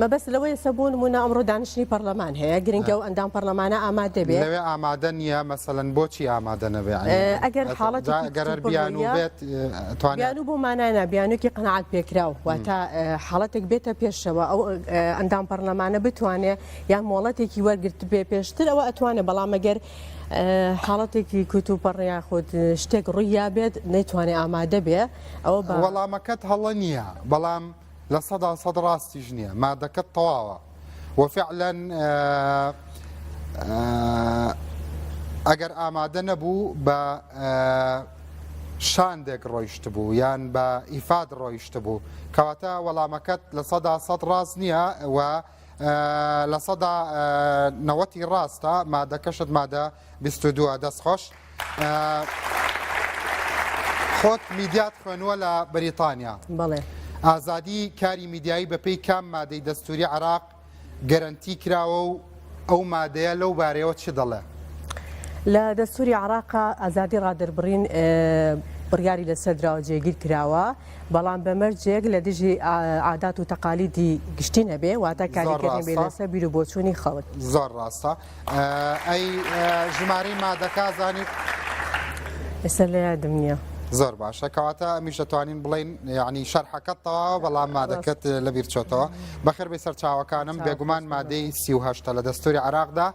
مەبەست لەوەی سە بوون مونە ئەمڕۆ دانیشتنی پەرلەمان هەیە گرنگە و ئەندام پەرلەمانە ئامادە بێ لەوێ ئامادە نییە مەسەن بۆچی ئامادە نەبێ ئەگەر حاڵەتگەرەر بیان و بێت توانیان و بۆ مانایە بیانوکی قەنعات پێکراو واتە حاڵەتێک بێتە پێشەوە ئەو ئەندام پەرلەمانە بتوانێت یان مۆڵەتێکی وەرگرت بێ پێشتر ئەوە ئەتوانێت بەڵام مەگەر حاڵەتێکی کوتوپەڕ یاخود شتێک ڕوویا بێت نەیتوانێ ئامادە بێ ئەوە بە وەڵامەکەت هەڵە نییە بەڵام لە سەدا سەد ڕاستیش نییە مادەکەت تەواوە وەفعلەن ئەگەر ئامادە نەبوو بە شاندێک ڕۆیشت بوو یان بە ئیفاد ڕۆیشت بوو کەواتە وەڵامەکەت لە سەدا سەد ڕاست نییە و لە سەدا نەوەتی ڕاستە مادەکەشت مادە بیست و دووە دەست خۆش خۆت میدیات خوێنووە لە بەریتانیا بەڵێ ئازادی کاری میدیایی بەپێی کام مادەی دەستوری عراق گەرنتی کراوە و ئەو مادەیە لەو بارەیەوە چی دەڵێ لە دەستوری عراق ئازادی ڕادربڕین بڕیاری لەسەر دراوە جێگیر کراوە. بەڵام بە مەرجێک لە دژی عادات و تەقالیدی گشتی نەبێ واتە کاریگەری بێ لەسەر بیر و بۆچوونی خەڵک زۆر ڕاستە ئەی ژماری مادەکە زانیت ئێستا لە یادم نییە زۆر باشە کەواتە ئەمیش دەتوانین بڵین یعنی شەرحەکەت تەواوە بەڵام مادەکەت لە بیرچۆتەوە بەخێر بێ سەرچاوەکانم بێگومان مادەی سیهشتا لە دەستوری عراقدا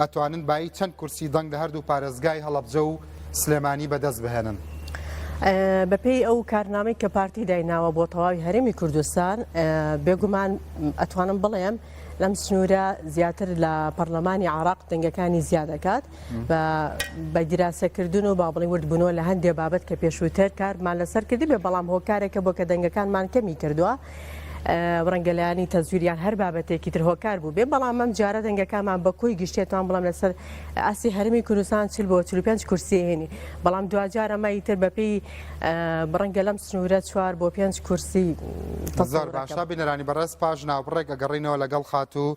ئەتوانن بایی چەند کورسی دەنگ لە هەردوو پارێزگای هەڵەبجە و سلێمانی بەدەست بهێنن. بەپێی ئەو کارنامەی کە پارتی دایناوە بۆ تەواوی هەرێمی کوردستان بێگومان ئەتوانم بڵێم لەم سنوورە زیاتر لە پەرلەمانی عراق دەنگەکانی زیاد دەکات بە دیراسەکردن و بابڵی وردبوونەوە لە هەندێک بابەت کە پێشووتر کارمان لەسەر کردی بێ بەڵام هۆکارێکە بۆ کە دەنگەکانمان کەمی کردووە ڕەنگە لایەنی تەزویر یان هەر بابەتێکی تر هۆکار بوو بێ بەڵام مەم جارە دەنگەکانمان بە کۆی گشتێتوان بڵام لەسەر ئاسی هەرمی کوردستان چل بۆ 45 کورسی هێنی بەڵام دواجارە مای تر بەپی بڕەنگە لەم سنوورە چوار بۆ پێنج کورسی باشا بینەرانی بەڕێز پاش ناوبڕێک ئەگەڕینەوە لەگەڵ خاتوو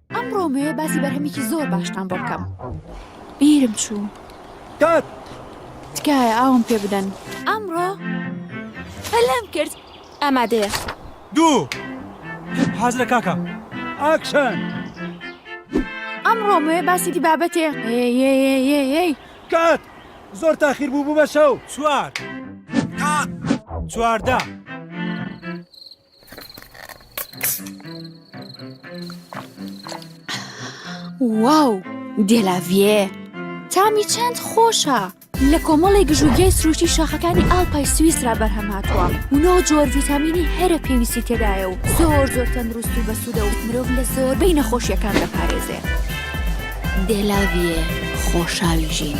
ئەمڕۆ مەوێ باسی بەرهەمێکی زۆر باشتان بۆ بکەم بیرم چوو کات تکایە ئاوم پێ بدەن ئەمڕۆ هەلام کرد ئامادەیە دوو حازرە کاکە ئاکشن ئەمڕۆ مەوێ باسی دی بابەتێ هی کات زۆر تاخیر بوو بوو بە شەو چوار کات چواردە واو دێلاڤێ تامی چەند خۆشە لە کۆمەڵی گژوگیای سروشتی شاخەکانی ئاڵپای سوئیسرا بەرهەم هاتووە ونۆ جۆر ڤیتامینی هەرە پێویستی تێدایە و زۆر زۆر تەندروست و بەسوودە و مرۆڤ لە زۆربەی نەخۆشیەکان دەپارێزێ دێلاڤێ خۆشاوی ژین.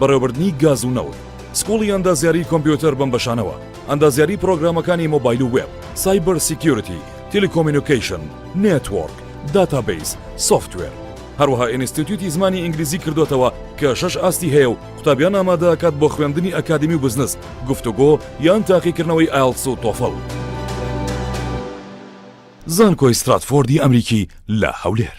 بەڕێوەبردنی گاز و نەوت، سکوڵی ئەندازیاری کۆمپیوتەر بەم بەشانەوە، ئەندازیاری پڕۆگرامەکانی مۆبایل و وێب، سایبەر سیکیۆرتی، تیلیکۆمینۆکەیشن، نێتوۆرک، داتابەیس، سۆفتوێر. هەروەها ئینستیتوتی زمانی ئینگلیزی کردۆتەوە کە شەش ئاستی هەیە و قوتابیان ئامادە ئەکات بۆ خوێندنی ئەکادیمی و بزنس، گفتوگۆ یان تاقیکردنەوەی ئایڵتس و تۆفڵ. زانکۆی ستراتفۆردی ئەمریکی لە هەولێر.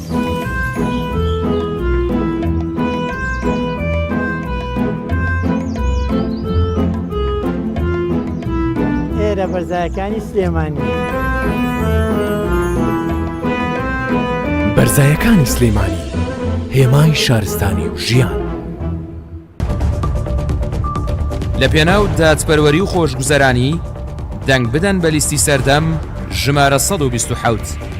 ئێرە بەرزایەکانی سلێمانی. بەرزایەکانی سلێمانی هێمای شارستانی و ژیان. لە پێناو دادپەروەری و خۆشگوزەرانی دەنگ بدەن بە لیستی سەردەم ژمارە 1970.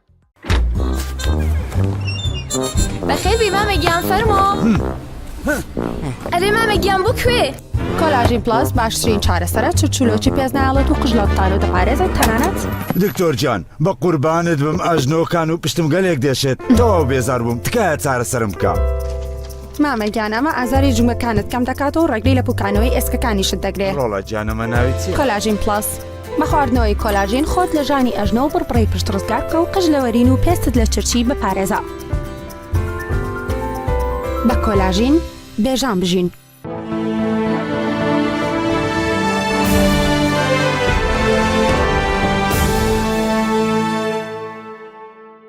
بەخێبی مامە گیان فەرمۆ ئەرێ مامە گیان بۆ کوێ؟ کۆلاژین پلاس باشترین چارەسەرە چچولۆکی پێز ناڵێت و قژلاتان و دەپارێزە تەنانەت دکتۆرجان بە قوربانت بم ئەژنۆکان و پشتم گەلێک دێشێت تەواو بێزار بووم تکایە چارەسەرم بکە. مامە گیان ئەمە ئازاری جومەکانت کەم دەکاتەوە ڕێگری لە پوکانەوەی ئێسکەکانیشت دەگرێت ڕۆڵە گیانەمە ناوی چی؟ کۆلاژین پلاس. بە خواردنەوەی کۆلاژین خۆت لە ژانی ئەژنۆ و بڕبڕەی پشت ڕزگار بکە و قژ لە وەرین و پێستت لە چرچی بپارێزە. بە کۆلاژین بێژان بژین.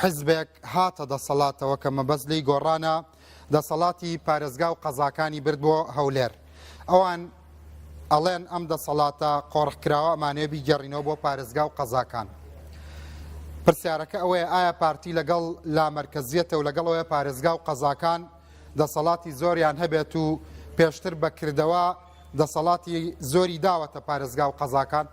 حزبێک هاتە دەسەڵاتەوە کە مەبەست لێی گۆڕانە، دەسەڵاتی پارێزگا و قەزاکانی برد بۆ هەولێر. ئەوان ئەڵێن ئەم دەسەڵاتە قۆرخکراوە ئەمانەوێ بیگێڕینەوە بۆ پارێزگا و قەزاکان. پرسیارەکە ئەوەیە ئایا پارتی لەگەڵ لامەرکەزیەتە و لەگەڵ ئەوەیە پارێزگا و قەزاکان دەسەڵاتی زۆریان هەبێت و پێشتر بە کردەوە دەسەڵاتی زۆری داوەتە پارێزگا و قەزاکان؟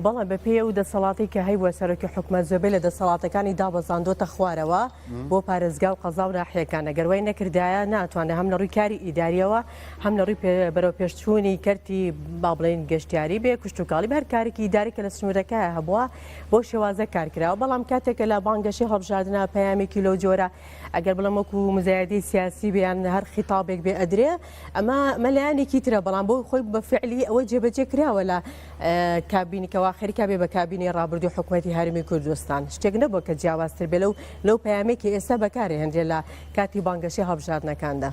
بەڵێ بەپێی ئەو دەسەڵاتی کە هەیبووە سەرۆکی حکومەت زۆربەی لە دەسەڵاتەکانی دابەزاندۆتە خوارەوە بۆ پارێزگا و قەزا و ناحیەکان ئەگەر وای نەکردایە ناتوانێت هەم لە ڕووی کاری ئیداریەوە هەم لە ڕووی بەرەو پێشچوونی کەرتی با بڵێن گەشتیاری بێ کوشتتوکاڵی بەر کارێکی ئیداری کە لە سنوورەکە هەبووە بۆ شێوازە کارکراوە بەڵام کاتێکە لە بانگەشی هەڵبژاردنە پامێکی لەو جۆرە ئەگەر بڵم وەکو مزایدی سیاسی بیان هەر خیتابێک بێ ئەدرێ ئەمە مەلایانێکی ترە بەڵام بۆ خۆی بە فعلی ئەوە جێبەجێ کراوە لە کابینی کەوا خەریکا بێ بە کابینی ڕابردوو حکوومەتتی هەرمی کوردستان شتێک نەبووە کە جیاوازتر بێ لەو لەو پامێکی ئێستا بەکارێ هەندێ لە کاتی بانگەشی هەڵبژاردنەکاندا.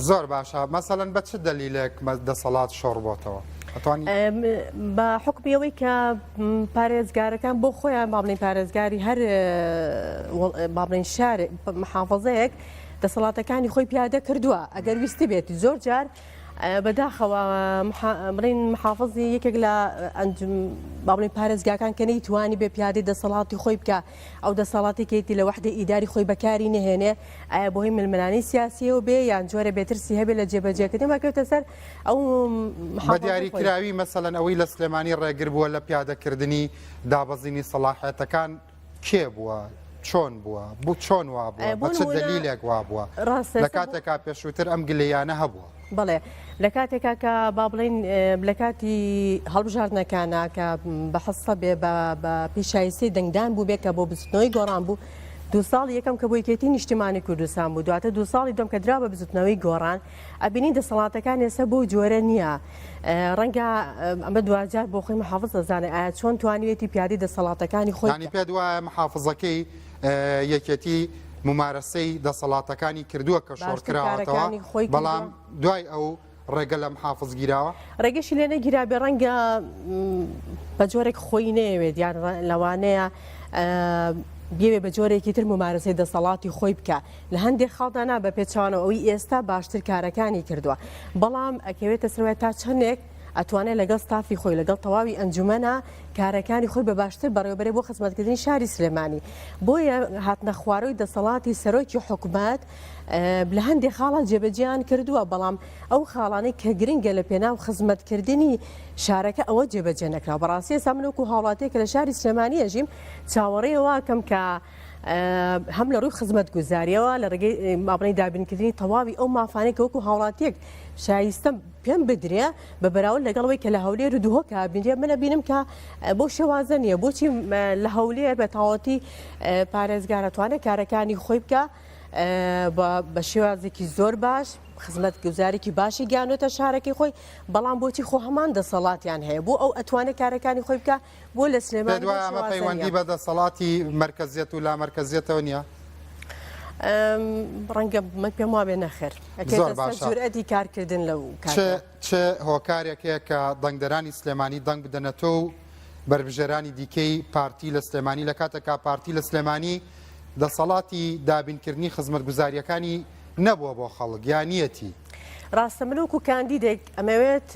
زۆر باشە مەسەەن بە چ دەلیلێک دەسەڵات شۆڕ بۆتەوە بە حکمی ئەوەی کە پارێزگارەکان بۆ خۆیان بابلین پارێزگاری هەر بابلین شار محافظەیەک دەسەڵاتەکانی خۆی پیادە کردووە ئەگەر ویستی بێت زۆر جار بەداخەوە بڵین محافظی یەکێک لە باڵی پارێزگاکان کە نەی توانی بێ پیادی دەسەڵاتی خۆی بکە ئەو دەسەڵاتی کەیتی لە وحدی ئیداری خۆی بەکاری نهێنێ ئایا بۆی ململانی سیاسی و بێ یان جۆرە بێترسی هەبێ لە جێبەجێکردن بەکەوتە سەر ئەو دیاری کراوی مەسەن ئەوەی لە سلێمانی ڕێگر بووە لە پیادەکردنی دابەزینی سەلاحەتەکان کێ بووە چۆن بووە بوو چۆن وا بووە بە چ دلیلێک وا بووە لە کاتێکا پێشووتر ئەم گلیانە هەبووە بڵێ لە کاتێکا کە با بڵین لە کاتی هەڵبژاردنەکانە کە بە حسە بێ بە پیشایستی دەنگدان بوو بێ کە بۆ بزنەوەی گۆڕان بوو دو ساڵ یەکەم کە بۆ یەکێتی نیشتیمانی کوردستان بوو دواتە دو ساڵی دەم کە درا بە بزوتنەوەی گۆڕان ئەبینی دەسەڵاتەکان ئێستا بۆ جۆرە نییە ڕەنگە ئەمە دواجار بۆ خۆی محافظ دەزانێ ئایا چۆن توانیوێتی پیادی دەسەڵاتەکانی خۆی ینی پێ دوایە محافظەکەی یەکێتی ممارەسەی دەسەڵاتەکانی کردووە کە شۆڕکراوەتەوە خۆی بەڵام دوای ئەو ڕێگە لە محافظ گیراوە ڕێگەشی لێ نەگیرا بێ ڕەنگە بە جۆرێک خۆی نەیەوێت یان لەوانەیە بێ بە جۆرێکی تر ممارەسەی دەسەڵاتی خۆی بکە لە هەندێک خاڵدا نا بە پێچەوانەوە ئەوی ئێستا باشتر کارەکانی کردووە بەڵام ئەکەوێتە سەروای تا چەندێک ئەتوانێت لەگەڵ ستافی خۆی لەگەڵ تەواوی ئەنجومەنە کارەکانی خۆی بە باشتر بەڕێوبەرێ بۆ خزمەتکردنی شاری سلێمانی بۆیە هاتنە خوارەوەی دەسەڵاتی سەرۆکی حکومت لە هەندێک خاڵە جێبەجیان کردووە بەڵام ئەو خاڵانەی کە گرنگە لە پێناو خزمەتکردنی شارەکە ئەوە جێبەجێ نەکرا بەڕاستی سامنۆک و هاوڵاتێک لە شاری سلێمانیەژیم چاوەڕێەوە کەم کە هەم لە ڕووی خزمەت گوزاریەوە لە ڕێگەی مابنەی دابینکردنی تەواوی ئەو مافانێک وەکو هاوڵاتیەک شایستە پێم بدرێ بە بەراون لەگەڵەوەی کە لە هەولێر و دوهۆ کە بینێ منە بینم کە بۆ شێوازە نییە بۆچی لە هەولێر بە تاوەتی پارێزگارەتوانێت کارەکانی خۆی بکە بە شێوازێکی زۆر باش خزمەت گوزارێکی باشی گیانێتە شارەکەی خۆی بەڵام بۆچی خۆ هەمان دەسەڵاتیان هەیە بۆ ئەو ئەتوانێت کارەکانی خۆی بکە بۆ لە سلێمانی بۆ شوازەنیا؟ پێت وایە ئەمە پەیوەندی بە دەسەڵاتی مەرکەزیەت و لامەرکەزیەتەوە نییە؟ ڕەنگە من پێم وابێ نەخێر ئەکەێتی کارکردن لەو چ هۆکارێکەیە کە دەنگدەرانی سلێمانی دەنگ بدەنەتۆ و بربژێرانی دیکەی پارتی لە سلێمانی لە کاتەکە پارتی لە سلێمانی دەسەڵاتی دابینکردنی خزمەت گوزاریەکانی نەبووە بۆ خەڵک یانیەتی ڕاستە منوکو کاندیدێک ئەمەوێت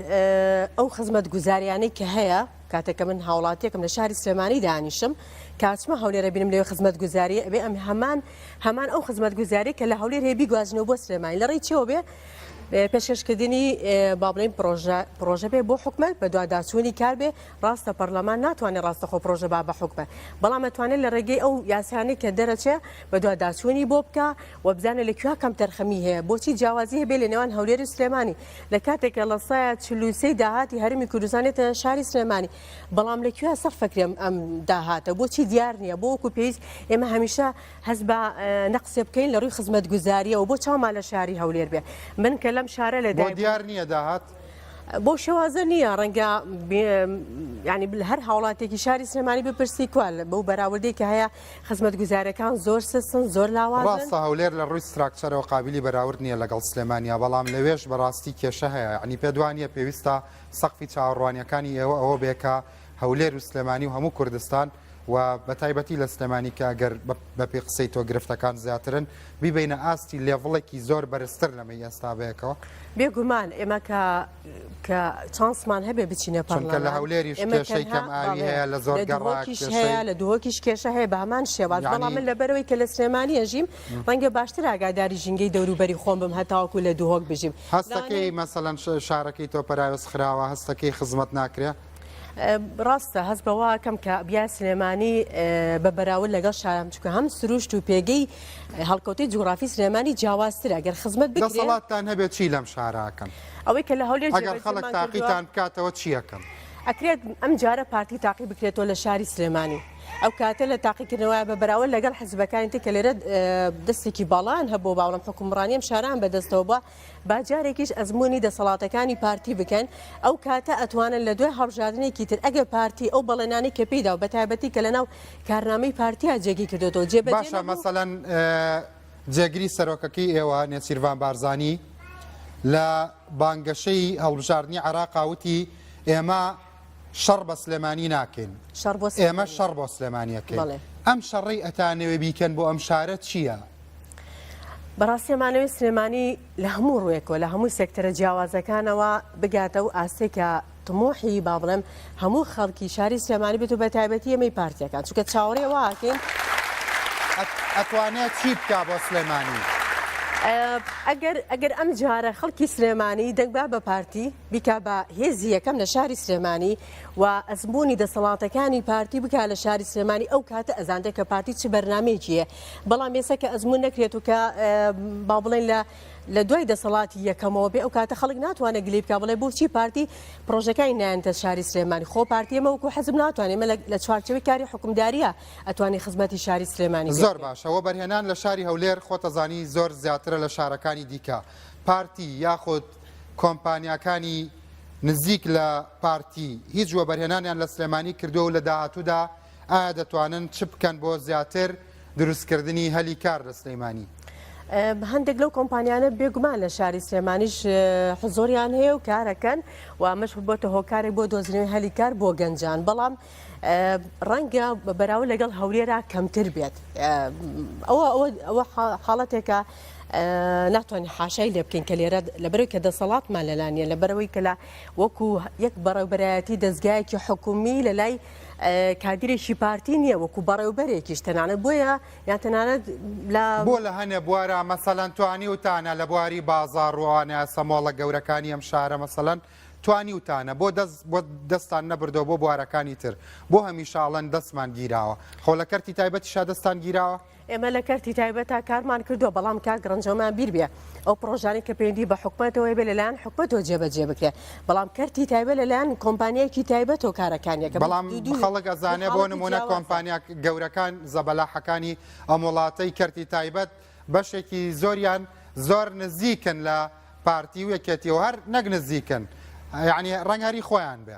ئەو خزمەت گوزاریانەی کە هەیە کاتێک کە من هاوڵاتیەکم لە شاری سلێمانی دانیشم کاتچمە هەولێرە بینم لێ خزمەت گوزاری ئەبێ ئەم هەمان هەمان ئەو خزمەت گوزاری کە لە هەولێر هەیە بیگوازنەوە بۆ سلێمانی لە ڕێی چێوە بێ پێشکەشکردنی بابلین پرۆژە پرۆژە بێ بۆ حکومت بە دوواداچوونی کار بێ ڕاستە پەرلەمان ناتوانێت ڕاستە خۆ پرۆژە با بە حکومە بەڵام ئەتوانێت لە ڕێگەی ئەو یاسانی کە دەرەچێ بە دوواداچوونی بۆ بکە وەبزانە لە کوێ کەمتەرخەمی هەیە؟ بۆچی جیاوازی هەبێت لە نێوان هەولێر و سلێمانی؟ لە کاتێکا لە سایە چل و سێی داهاتی هەرێمی کوردستان دێتە شاری سلێمانی، بەڵام لە کوێ سەقف فەکری ئەم داهاتە؟ بۆچی دیار نییە؟ بۆ وەکو پێویست ئێمە هەمیشە هەست بە نەقسێ بکەین لە ڕووی خزمەتگوزارییەوە؟ بۆ چاومان لە شاری هەولێر بێ؟ من کە لەم شارە لە بۆ دیار نییە داهات؟ بۆ شێوازە نییە ڕەنگە ینی هەر هاوڵاتێکی شاری سلێمانی بپرسی کوال بەو بەراوردێکە هەیە خزمەتگوزارەکان زۆر سستن زۆر لاوازن. ڕاستە هەولێر لە ڕووی ستراکچەرەوە قابیلی بەراورد نییە لەگەڵ سلێمانیا بەڵام لەوێش بەڕاستی کێشە هەیە یەعنی پێت وانییە پێویستە سەقفی چاوەڕوانییەکانی ئێوە ئەوە بێ کە هەولێر و سلێمانی و هەموو کوردستان و بەتایبەتی لە سلێمانی کە گەر بەپێی قسەی تۆ گرفتەکان زیاترن بیبەینە ئاستی لێڤڵێکی زۆر بەرزتر لەمەی ئێستا بەیەکەوە؟ بێگومان ئێمە کە کە چانسمان هەبێ بچینە پەرلەمان لە هەولێریش کێشەی کەم ئاوی هەیە لە زۆر گەڕاکیش هەیە لە دهۆکیش کێشە هەیە بە هەمان شێواز بەڵام من لەبەرەوەی کە لە سلێمانی ژیم ڕەنگە باشتر ئاگاداری ژینگەی دەوروبەری خۆم بم هەتاوەکو لە دهۆک بژیم هەستەکەی مەسەەن شارەکەی تۆ پراوێز خراوە هەستەکەی خزمەت ناکرێ ڕاستە هەست بەواکەم کە بیا سلێمانی بە بەراورد لەگەڵ شارم چکە هەم سروشت و پێگەی هەڵکەوتی جوگرافی سلێمانی جیاوازترە گەر خزمەت بگەڵاتان هەبێت چی لەم شاراکەم ئەوەی کە لە هەولێر جێبەجێمان کردووە. ئەگەر خەڵک تاقیتان بکاتەوە چی ئەکەن؟ ئەکرێت ئەم جارە پارتی تاقی بکرێتەوە لە شاری سلێمانی ئەو کاتە لە تاقیکردنەوەیە بە بەراورد لەگەڵ حزبەکانی تر کە لێرە دەستێکی باڵایان هەبوو باوەڵم حکومڕانی ئەم شاران بەدەستەوە بە باجارێکیش ئەزمموی دەسەڵاتەکانی پارتی بکەن ئەو کاتە ئەتوانن لە دوای هەڵبژاردنێکی تر ئەگەر پارتی ئەو بەڵێنانی کە پێیدا و بەتایبەتی کە لەناو کارنامەی پارتیا جێگی کردوەوە جێ باشە مەسەەن جێگری سەرۆکەکەی ئێوە نێچیرڤان بارزانی لە بانگەشەی هەڵبژاردنی عێراقا وتی ئێمە شەڕ بە سلێمانی ناکەین شەڕ بۆ سلێمانی. ئێمە شەڕ بۆ سلێمانیەکەین بەڵێ. ئەم شەڕی ئەتانەوێ بیکەن بۆ ئەم شارە چییە؟ بەڕاستی ئەمانەوێت سلێمانی لە هەموو ڕوێکەوە لە هەموو سێکتەرە جیاوازەکانەوە بگاتە و ئاستێکە تموحی با بڵێم هەموو خەڵکی شاری سلێمانی بێت و بە تایبەتی ئێمەی پارتیەکان چکە چاوەڕێ واکەین ئەتوانێت چی بکا بۆ سلێمانی ئەگەر ئەگەر ئەم جارە خەڵکی سلێمانی دەنگبا بە پارتی بیکا بە هێزی یەکەم لە شاری سلێمانی و ئەزمموی دەسەڵاتەکانی پارتی بکە لە شاری سلێمانی ئەو کاتە ئەزانجە کە پارتی چ بەرنمەیەکیە بەڵام ێسە کە ئەزمون نەکرێت و کە با بڵێن لە لە دوای دەسەڵاتی یەکەمەوە بێ ئەو کاتە خەڵک ناتوانێت گلی بکە بڵێ بۆچی پارتی پرۆژەکانی نایەنتە شاری سلێمانی خۆ پارتیمە وکو حەزم ناتوانێمە لە چوارچەوەی کاری حکومداریە ئەتوانی خزمەتی شاری سلێمانی زۆر باشە وە بەرهێنان لە شاری هەولێر خۆتەزانی زۆر زیاترە لە شارەکانی دیکە پارتی یاخود کۆمپانیاکانی نزیک لە پارتی هیچ وەبەرهێنانیان لە سلێمانی کردووە و لە داهاتوودا ئایا دەتوانن چ بکەن بۆ زیاتر دروستکردنی هەلی کار لە سلەیمانی؟ هەندێک لەو کۆمپانیانە بێگومان لە شاری سلێمانیش حزۆریان هەیە و کارەکەن و ئەمەش بۆتە هۆکارێک بۆ دۆزینەوەی هەلی کار بۆ گەنجان بەڵام ڕەنگە بەراو لەگەڵ هەولێرا کەمتر بێت ئەوە ئەوە حاڵەتێکە ناتوانین حاشای لێ بکەین کە لێرە لەبەرەوەی کە دەسەڵاتمان لەلانە لە بەرەوەی کەلا وەکو یەک بەڕێوبەرایەتی دەستگایەکی حکومی لە لای کادرێکی پارتی نییە وەکو بەڕێوبەرێکیش تەنانە بۆیە یان تەنانەت بۆ لە هەنێ بوارە مەسەلەن توانی وتانە لە بواری بازاڕوانە سەمۆڵە گەورەکانی ئەم شارە مەسەلەن توانی وتانە بۆ دەست بۆ دەستان نەبردەوە بۆ بوارەکانی تر بۆ هەمیشاڵەن دەستمان گیراوە خۆ لە کەرتی تایبەتی شادستان گیراوە ئێمە لە کەرتی تایبەتا کارمان کردووە بەڵام کاک ڕەنجەمان بیربێ ئەو پرۆژانی کە پێویندی بە حکومەتەوەی بێ لەلایەن حکومەتەوە جێبەجێ بکرێ بەڵام کەرتی تایبە لەلایەن کۆمپانیایکی تایبەت و کارەکانیەکە بەڵام خەڵک ئەزانێ بۆ نمونە کۆمپانیا گەورەکان زەبەلاحەکانی ئەم وڵاتەی کەرتی تایبەت بەشێکی زۆریان زۆر نزیکن لە پارتی و یەکێتی و هەر نەک نزیکن یعنی ڕنگاری خۆیان بێ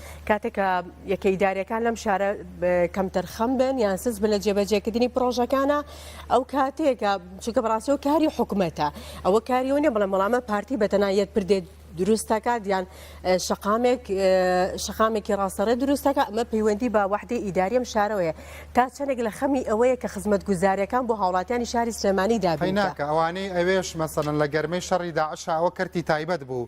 کاتێک کە یەکە ئیدارەکان لەم شارە کەمتەرخەم بن یان سز بن لە جێبەجێکردنی پرۆژەکانە ئەو کاتێکە چونکە بەڕاستەوە کاری حکوومەتە ئەوە کاریەوە نیە بڵێ مەڵامە پارتی بەتەنا یەک پردێت دروستەکات یان شقامێک شقامێکی ڕاستەڕێ دروستەکە ئەمە پەیوەندی بە وحدی ئیداریم شارەوەیە تا چەندێک لە خەمی ئەوەیە کە خزمەت گوزارەکان بۆ هاوڵاتیانی شاری سلێمانی دابیناکە ئەوانەی ئەوێش مەسەن لە گەرمەی شەڕی داعشا ئەوە کەرتی تایبەت بوو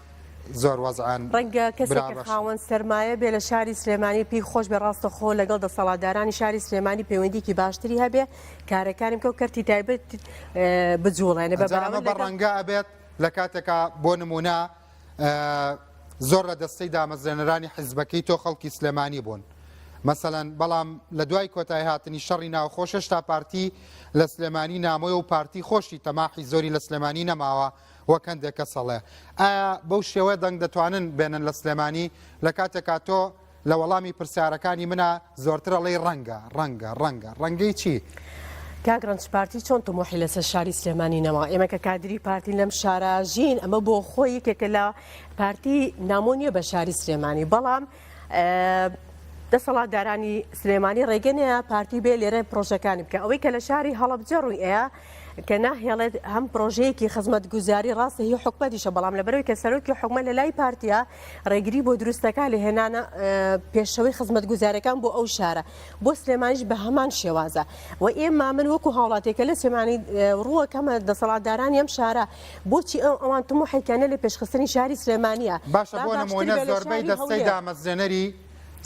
زۆر وەزعان ڕەنگە کەسێک کە خاوەن سەرمایە بێ لە شاری سلێمانی پێی خۆش بێ ڕاستە خۆ لەگەڵ دەسەڵاتدارانی شاری سلێمانی پەیوەندیکی باشتری هەبێ کارەکانم کە و کەرتی تایبەت بجوڵێنە بە بە ڕەنگە ئەبێت لە کاتێکا بۆ نمونە زۆر لە دەستەی دامەزرێنەرانی حیزبەکەی تۆ خەڵکی سلێمانی بوون. مەسەەن بەڵام لە دوای کۆتای هاتنی شەڕی ناوخۆشش تا پارتی لە سلێمانی نامۆی و پارتی خۆشی تەماحی زۆری لە سلێمانی نەماوە وەک هەندێک کەس ئەڵێ ئایا بەو شێوەیە دەنگ دەتوانن بێنن لە سلێمانی لە کاتێکا تۆ لە وەڵامی پرسیارەکانی منە زۆرترە ڵێی ڕەنگە ڕەنگە ڕەنگە ڕەنگەی چی؟ کاک ڕەنج پارتی چۆن تموحی لەسەر شاری سلێمانی نەما ئێمە کە کادری پارتی لەم شاراژین ئەمە بۆ خۆی یەکێکە لە پارتی نامۆ نیە بە شاری سلێمانی بەڵام دەسەڵاتدارانی سلێمانی ڕێگە نەیە پارتی بێ لێرە پرۆژەکانی بکە ئەوەی کە لە شاری هەڵبجە ڕووی ئەیە کە ناهێڵێت هەم پرۆژەیەکی خزمەت گوزاری ڕاستە هی حکومەتیشە بەڵام لە بەرەوەی کە سەرۆکی حکومە لە لای پارتیا ڕێگری بۆ دروستەکە لە هێنانە پێشەوەی خزمەت گوزارەکان بۆ ئەو شارە بۆ سلێمانیش بە هەمان شێوازە و ئێمە من وەکو هاوڵاتێکە لە سلێمانی ڕووەکەمە دەسەڵاتدارانی ئەم شارە بۆچی ئەو ئەوان تموحی کە نە لە پێشخستنی شاری سلێمانیە باشە بۆ نمونە زۆربەی دەستەی دامەزرێنەری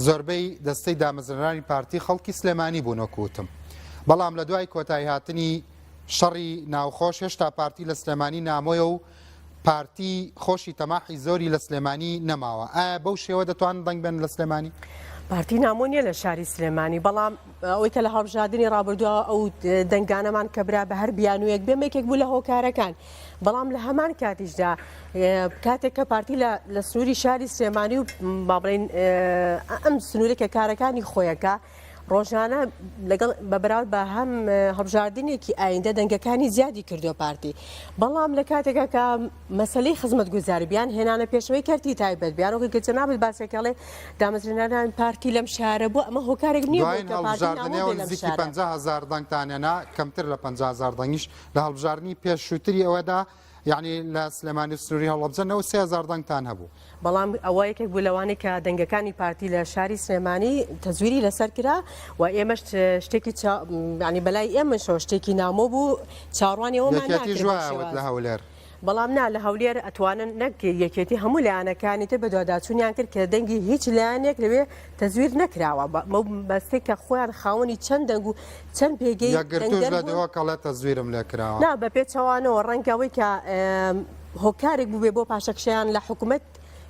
زۆربەی دەستەی دامەزرانی پارتی خەڵکی سلێمانی بوون وەکوتم بەڵام لە دوای کۆتایی هاتنی شەڕی ناوخۆش هێشتا پارتی لە سلێمانی نامۆیە و پارتی خۆشی تەماحی زۆری لە سلێمانی نەماوە ئایا بەو شێوە دەتوان دەنگ بن لە سلێمانی پارتی نامۆ نیە لە شاری سلێمانی بەڵام ئەوەی کە لە هەڵبژاردنی ڕابردووە ئەو دەنگانەمان کە برا بە هەر بیانوویەک بێ مێکێک بوو لە هۆکارەکان بەڵام لە هەمان کاتیشدا کاتێک کە پارتی لە سنووری شاری سلێمانی و بابلین ئەم سنووری کە کارەکانی خۆیەکە ڕۆژانە لەگەڵ بەبراود بە هەم هەبژاردنێکی ئایندە دەنگەکانی زیادی کردو پارتی بەڵام لە کاتێکە کە مەسەلەی خزمەتگوزاری بیان هێنانە پێشەوەی کەرتی تایبەت بیان وەکە کە جەنابت باسێکەڵێ دامەزرێنانان پارتی لەم شارە بۆ ئەمە هۆکارێک نییەزیکی 500هزار دەنگتانێنا کەمتر لە 500هزار دەنگیش لە هەڵبژاردننی پێشووتری ئەوەدا یعنی لە سلێمانی سنووری هەڵبجە 90هزار دەنگتان هەبوو بەڵام ئەوە یەکێک بوو لەوانەی کە دەنگەکانی پارتی لە شاری سلێمانی تەزویری لەسەر کرا و ئێمەش شتێکی ینی بەلای ئێمەشەوە شتێکی نامۆ بوو چاڕوانیەوەمان لە هەولێر. بەڵام نا لە هەولێر ئەتوانن نەک یەکێتی هەموو لایەنەکانی تر بەدواداچوونیان کرد کە دەنگی هیچ لایەنێک لەوێ تەزویر نەکراوە بەستێک کە خۆیان خاوەنی چەند دەنگ و چەند پێگەی کەڵە تەزویرم لێکراوە بە پێچەوانەوە ڕەنگەوەی کە هۆکارێک بووبێ بۆ پاشەکشەیان لە حکومەت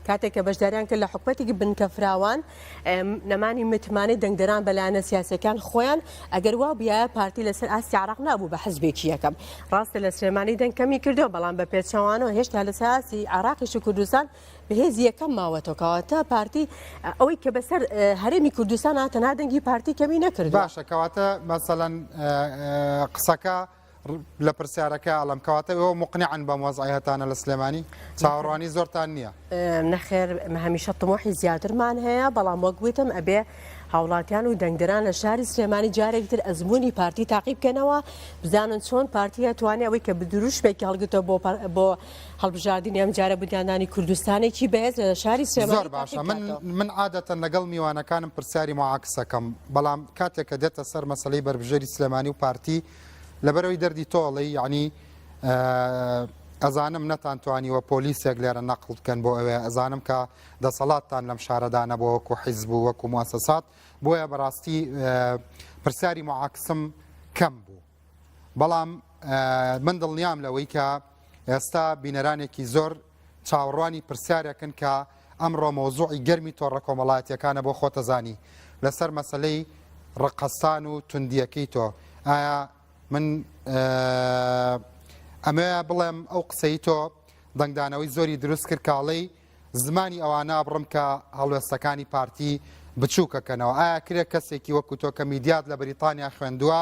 کاتێک کە بەشداریان کرد لە حکومەتێکی بنکە فراوان نەمانی متمانەی دەنگدەران بەلایەنە سیاسەکان خۆیان ئەگەر وا بە پارتی لەسەر ئاستی عراق نابوو بە حزبێکی یەکەم ڕاستە لە سلێمانی دەنگکەمی کردو بەڵام بە پێچەوانەوە هێشتا لە ساسی عراقیش و کوردستان بەهێز یەکەم ماوەتەکەەوە تا پارتی ئەوەی کە بەسەر هەرێمی کوردستان هاتە نادەنگی پارتی کەمی نەکرد باشە کەواتە مەسەەن قسەکە لە پرسیارەکە ئەڵم کەواتە ئەوە مقنعن بەم وەزعەتانە لە سلێمانی چاوەڕوانی زۆرتان نییە نەخێر هەمیشە تمۆحی زیاترمان هەیە بەڵام وەگوتم ئەبێ هاوڵاتیان و دەنگدران لە شاری سلێمانی جارێکتر ئەزمموی پارتی تاقیب بکەنەوە بزانن چۆن پارتیە توانێت ئەوەی کە بدروشمێکی هەڵگتە بۆ بۆ هەڵبژاردننی ئەم جارە بودیاندانی کوردستانێکی بەهێز لە شاری سێمار باشە من من عادەتەن لەگەڵ میوانەکانم پرسیاری معاکسەکەم بەڵام کاتێک کە دێتە سەر مەسلەی بەربژێری سلێمانی و پارتی لەبەرەوەی دەردی تۆ ئەڵێی یەعنی ئەزانم نەتانتوانیوە پۆلیسێک لێرە نەقڵ بکەن بۆ ئەوێ ئەزانم کە دەسەڵاتتان لەم شارەدا نەبووە وەکو حیزب و وەکو موسەسات بۆیە بەڕاستی پرسیاری معاکسم کەم بوو بەڵام من دڵنیام لەوەی کە ئێستا بینەرانێکی زۆر چاوەڕوانی پرسیارێکن کە ئەمڕۆ مەوزوعی گەرمی تۆڕە کۆمەڵایەتیەکانە بۆ خۆتەزانی لەسەر مەسلەی ڕقەستان و توندیەکەی تۆ ئایا من ئەمە بڵێم ئەو قسەی تۆ دەنگدانەوەی زۆری دروست کرد کاڵەی زمانی ئەوانە بڕم کە هەڵوێستەکانی پارتی بچووکەکەنەوە ئایا کرێ کەسێکی وەکو تۆ کە میدیات لە بریتانیا خوێندووە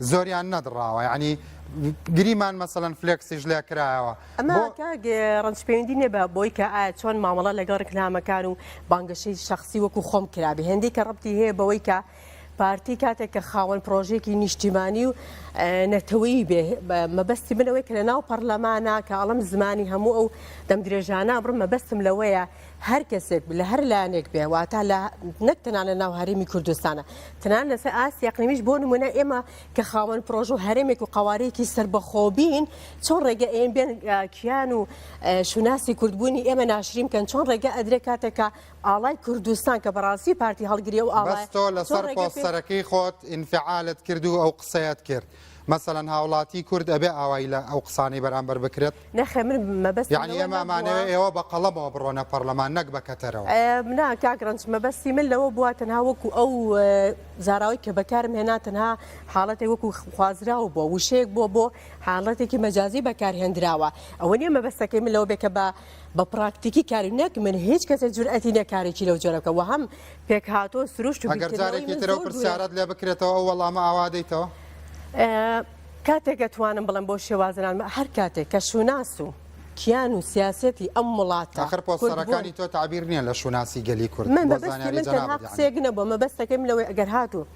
زۆریان نەدڕاوە یانی گریمان مەسەن فلکسیش لێ کرایەوە ڕنج پەیوەندی نێ بە بۆی کە ئایا چۆن مامەڵە لەگەڵ ڕکلامەکان و بانگەشەی شخصی وەکو خۆم کرابێ هێندی کە ڕبتی هەیە بەوەی کە پارتی کاتێک کە خاوەن پرۆژێکی نیشتیمانی و نەتەوەی بێ مەبەستی بنەوەی کە لە ناو پەرلەمانە کە ئەڵم زمانی هەموو ئەو دەم درێژانە بڕ مەبەستم لەوەیە هەر کەسێک لە هەر لایەنێک بێ واتا لە نەک تەنان لە ناو هەرمی کوردستانە تەنان لەسەر ئاسی یقلیمیش بۆ نمونە ئێمە کە خاوەن پرۆژ و هەرێمێک و قوارەیەکی سربەخۆبین چۆن ڕێگە ئێم بێن کیان و شوناسی کوردبوونی ئێمە ناشرین کەن چۆن ڕێگە ئەدرێ کاتێکە ئاڵای کوردستان کە بەڕاستی پارتی هەڵگری و ئاڵای تۆ لەسەر پۆستەرەکەی خۆت ئینفعالت کرد و ئەو قسەیەت کرد مەسەلەن هاوڵاتی کورد ئەبێ ئاوای لە ئەو قسانەی بەرامبەر بکرێت؟ نەخێر من مەبەستم یانی لەوە ئێمە نەبووە ئەمانەوێ ئێوە بە قەڵەمەوە بڕۆنە پەڕلەمان نەک بە کەتەرەوە. ئێ نا کاک ڕەنج مەبەستی من لەوە بووە تەنها وەکو ئەو زاراوەی کە بەکارم هێنا تەنها حاڵەتێک وەکو خوازراو بووە وشەیەک بووە بۆ حاڵەتێکی مەجازی بەکارهێندراوە ئەوە نیە مەبەستەکەی من لەوە بێ کە بە بە پراکتیکی کاری نەک من هیچ کەسێک جورئەتی نیە کارێکی لەو جۆرەکە و هەم پێک هاتۆ سروشت و ئەگەر جارێکی ترەوە پرسیارات لێ بکرێتەوە ئەو وەڵامە ئاوادەیتەوە کاتێک ئەتوانم بڵم بۆ شێوازران هەر کاتێک کە شوناس و کیان و سیاسەتی ئەم وڵاتە خەر پۆسەرەکانی تۆ تعبیر نییە لە شوناسی گەلی کورد من بەزانێک نەبوو مەبەستەکەم لەوەی ئەگەر هاتوو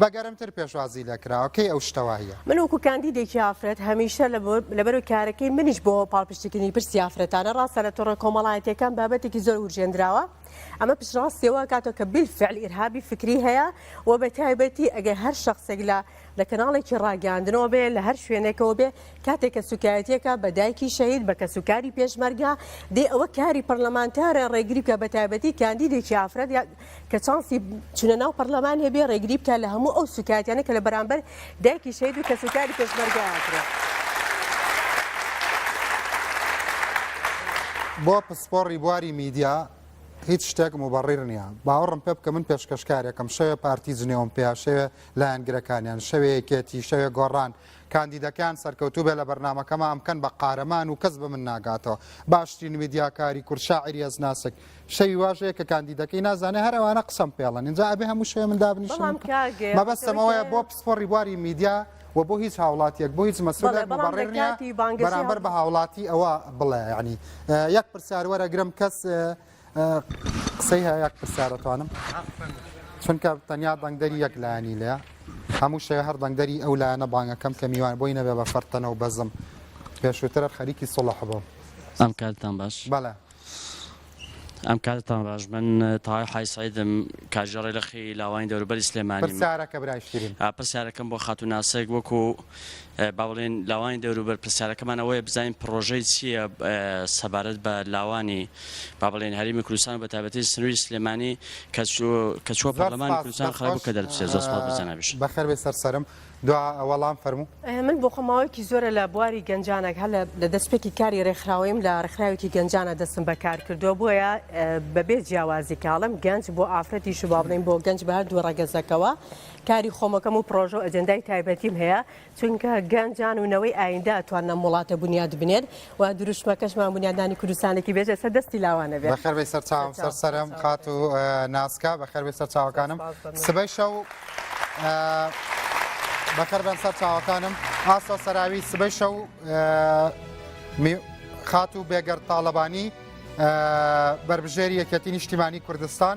بە گەرمتر پێشوازی لێ کراوە کەی ئەو شتە واییە. من وەکو کاندیدێکی ئافرەت هەمیشە لەبەروی کارەکەی منیش بۆ پاڵپشتیکردنی پرسی ئافرەتانە ڕاستە لە تۆڕە کۆمەڵایەتیەکان بابەتێکی زۆر ورژێنراوە ئەمە پشتڕاستی وا کاتۆ کە بیل فعل ئیرهابی فکری هەیە و بە تایبەتی ئەگەر هەر شخصێک لە لە کەناڵێکی ڕاگەاندنەوە بێ لە هەر شوێنێکەوە بێ کاتێک کە سوکایەتەکە بە دایکی شەید بە کە سوکاری پێشمەرگا دێ ئەوە کاری پەرلەمانتارە ڕێگری بکە بە تایبەتی کاندیدێکی ئافرەت کە چانسی چونە ناو پەرلەمان هەبێ ڕێگری بکە لە هەموو ئەو سوکاتیانە کە لە بەرامبەر دایکی شەید و کە سوکاری پێشمەرگاکرێ. بۆ پسپۆڕی بواری میدیا هیچ شتێک مبڕیر نییە باوەڕم پێ بکە من پێشکەشکارێکم شەوێ پارتی جنێوم پێ شەوێ لایەنگرەکانیان شەوەیەکێتی شەوێ گۆڕان کاندیدەکان سەرکەوتوو بێ لە بەرنمەکەمان بکەن بە قارەمان و کەس بە من ناگاتەوە باشترین میدیاکاری کورشاعری ئەزناسک شەوی واش هەیە کە کاندیدەکەی نازانێ هەر ئەوانە قسەم پێڵن اینجا ئەبێ هەموو شەوێ من دابنیشم بەڵام بکە کاگێ مەبەستەمەوەیە بۆ پسپۆڕی بواری میدیا و بۆ هیچ هاوڵاتیەک بۆ هیچ بەڵێ مەسولێک بەڵام لە مبرر نییە کاتی بانگەشەی بەرامبەر بە هەڵ هاوڵاتی ئەوە بڵێ ینی یەک پرسیار وەرەگرم کەس قسەی هەیە یەک پرسیار ئەتوانم چونکە تەنیا دەنگدەری یەک لایەنی لێ هەموو شەوێ هەر دەنگدەری ئەو لایەنە بانگەکەم کە میوان بۆی نەبێ بە فەرتەنە و بەزم پێشووترەر خەریکی سڵح بووم ئەم کارتان باش بەڵێ ئەم کاتتان باش من تاای حای سعیدم کاژێڕێ لە خێی لاوانی دەوروبەری سلێمانی پرسیارەکە برایشترین پرسیارەکەم بۆ خاتو ناسێک وەکو با بڵێن لاوانی دەوروبەر پرسیارەکەمان ئەوەیە بزانین پرۆژەی چییە سەبارەت بە لاوانی با بڵێن هەرمی کوردستان بە تابەتی سنووری سلێمانی کە چووە پەرلەمانی کوردستان خەڵک کە دەرچێت زۆر سپاس بزانە بخەر بێ سەرسەرم. سەرم. دوا وەڵام فەرموو. من بۆ خۆم ماوەیەکی زۆرە لە بواری گەنجانە هەر لە دەستپێکی کاری ڕێکخراوەییم لە ڕێکخراوێکی گەنجانە دەستم بە کار کردووە بۆیە بەبێ جیاوازی کاڵم گەنج بۆ ئافرەتی شو با بڵێن بۆ گەنج بە هەر دوو ڕەگەزەکەوە کاری خۆمەکەم و پرۆژە و ئەجندای تایبەتیم هەیە چونکە گەنجان و نەوەی ئایندە توانە وڵاتە بنیاد بنێت و دروشمەکەشمان بونیادنانی کوردستانێکی بێژە سەر دەستی لاوانە بێ. بەخێر بێی سەر چاوم سەر سەرم خاتو ناسکە بەخێر بێی سەر چاوەکانم سبەی شەو بەخێر بێن سەر چاوەکانم ئاسۆ سەراوی سبەی شەو خاتو بێگەرد تاڵەبانی بەربژێری یەکەتی نیشتیمانی کوردستان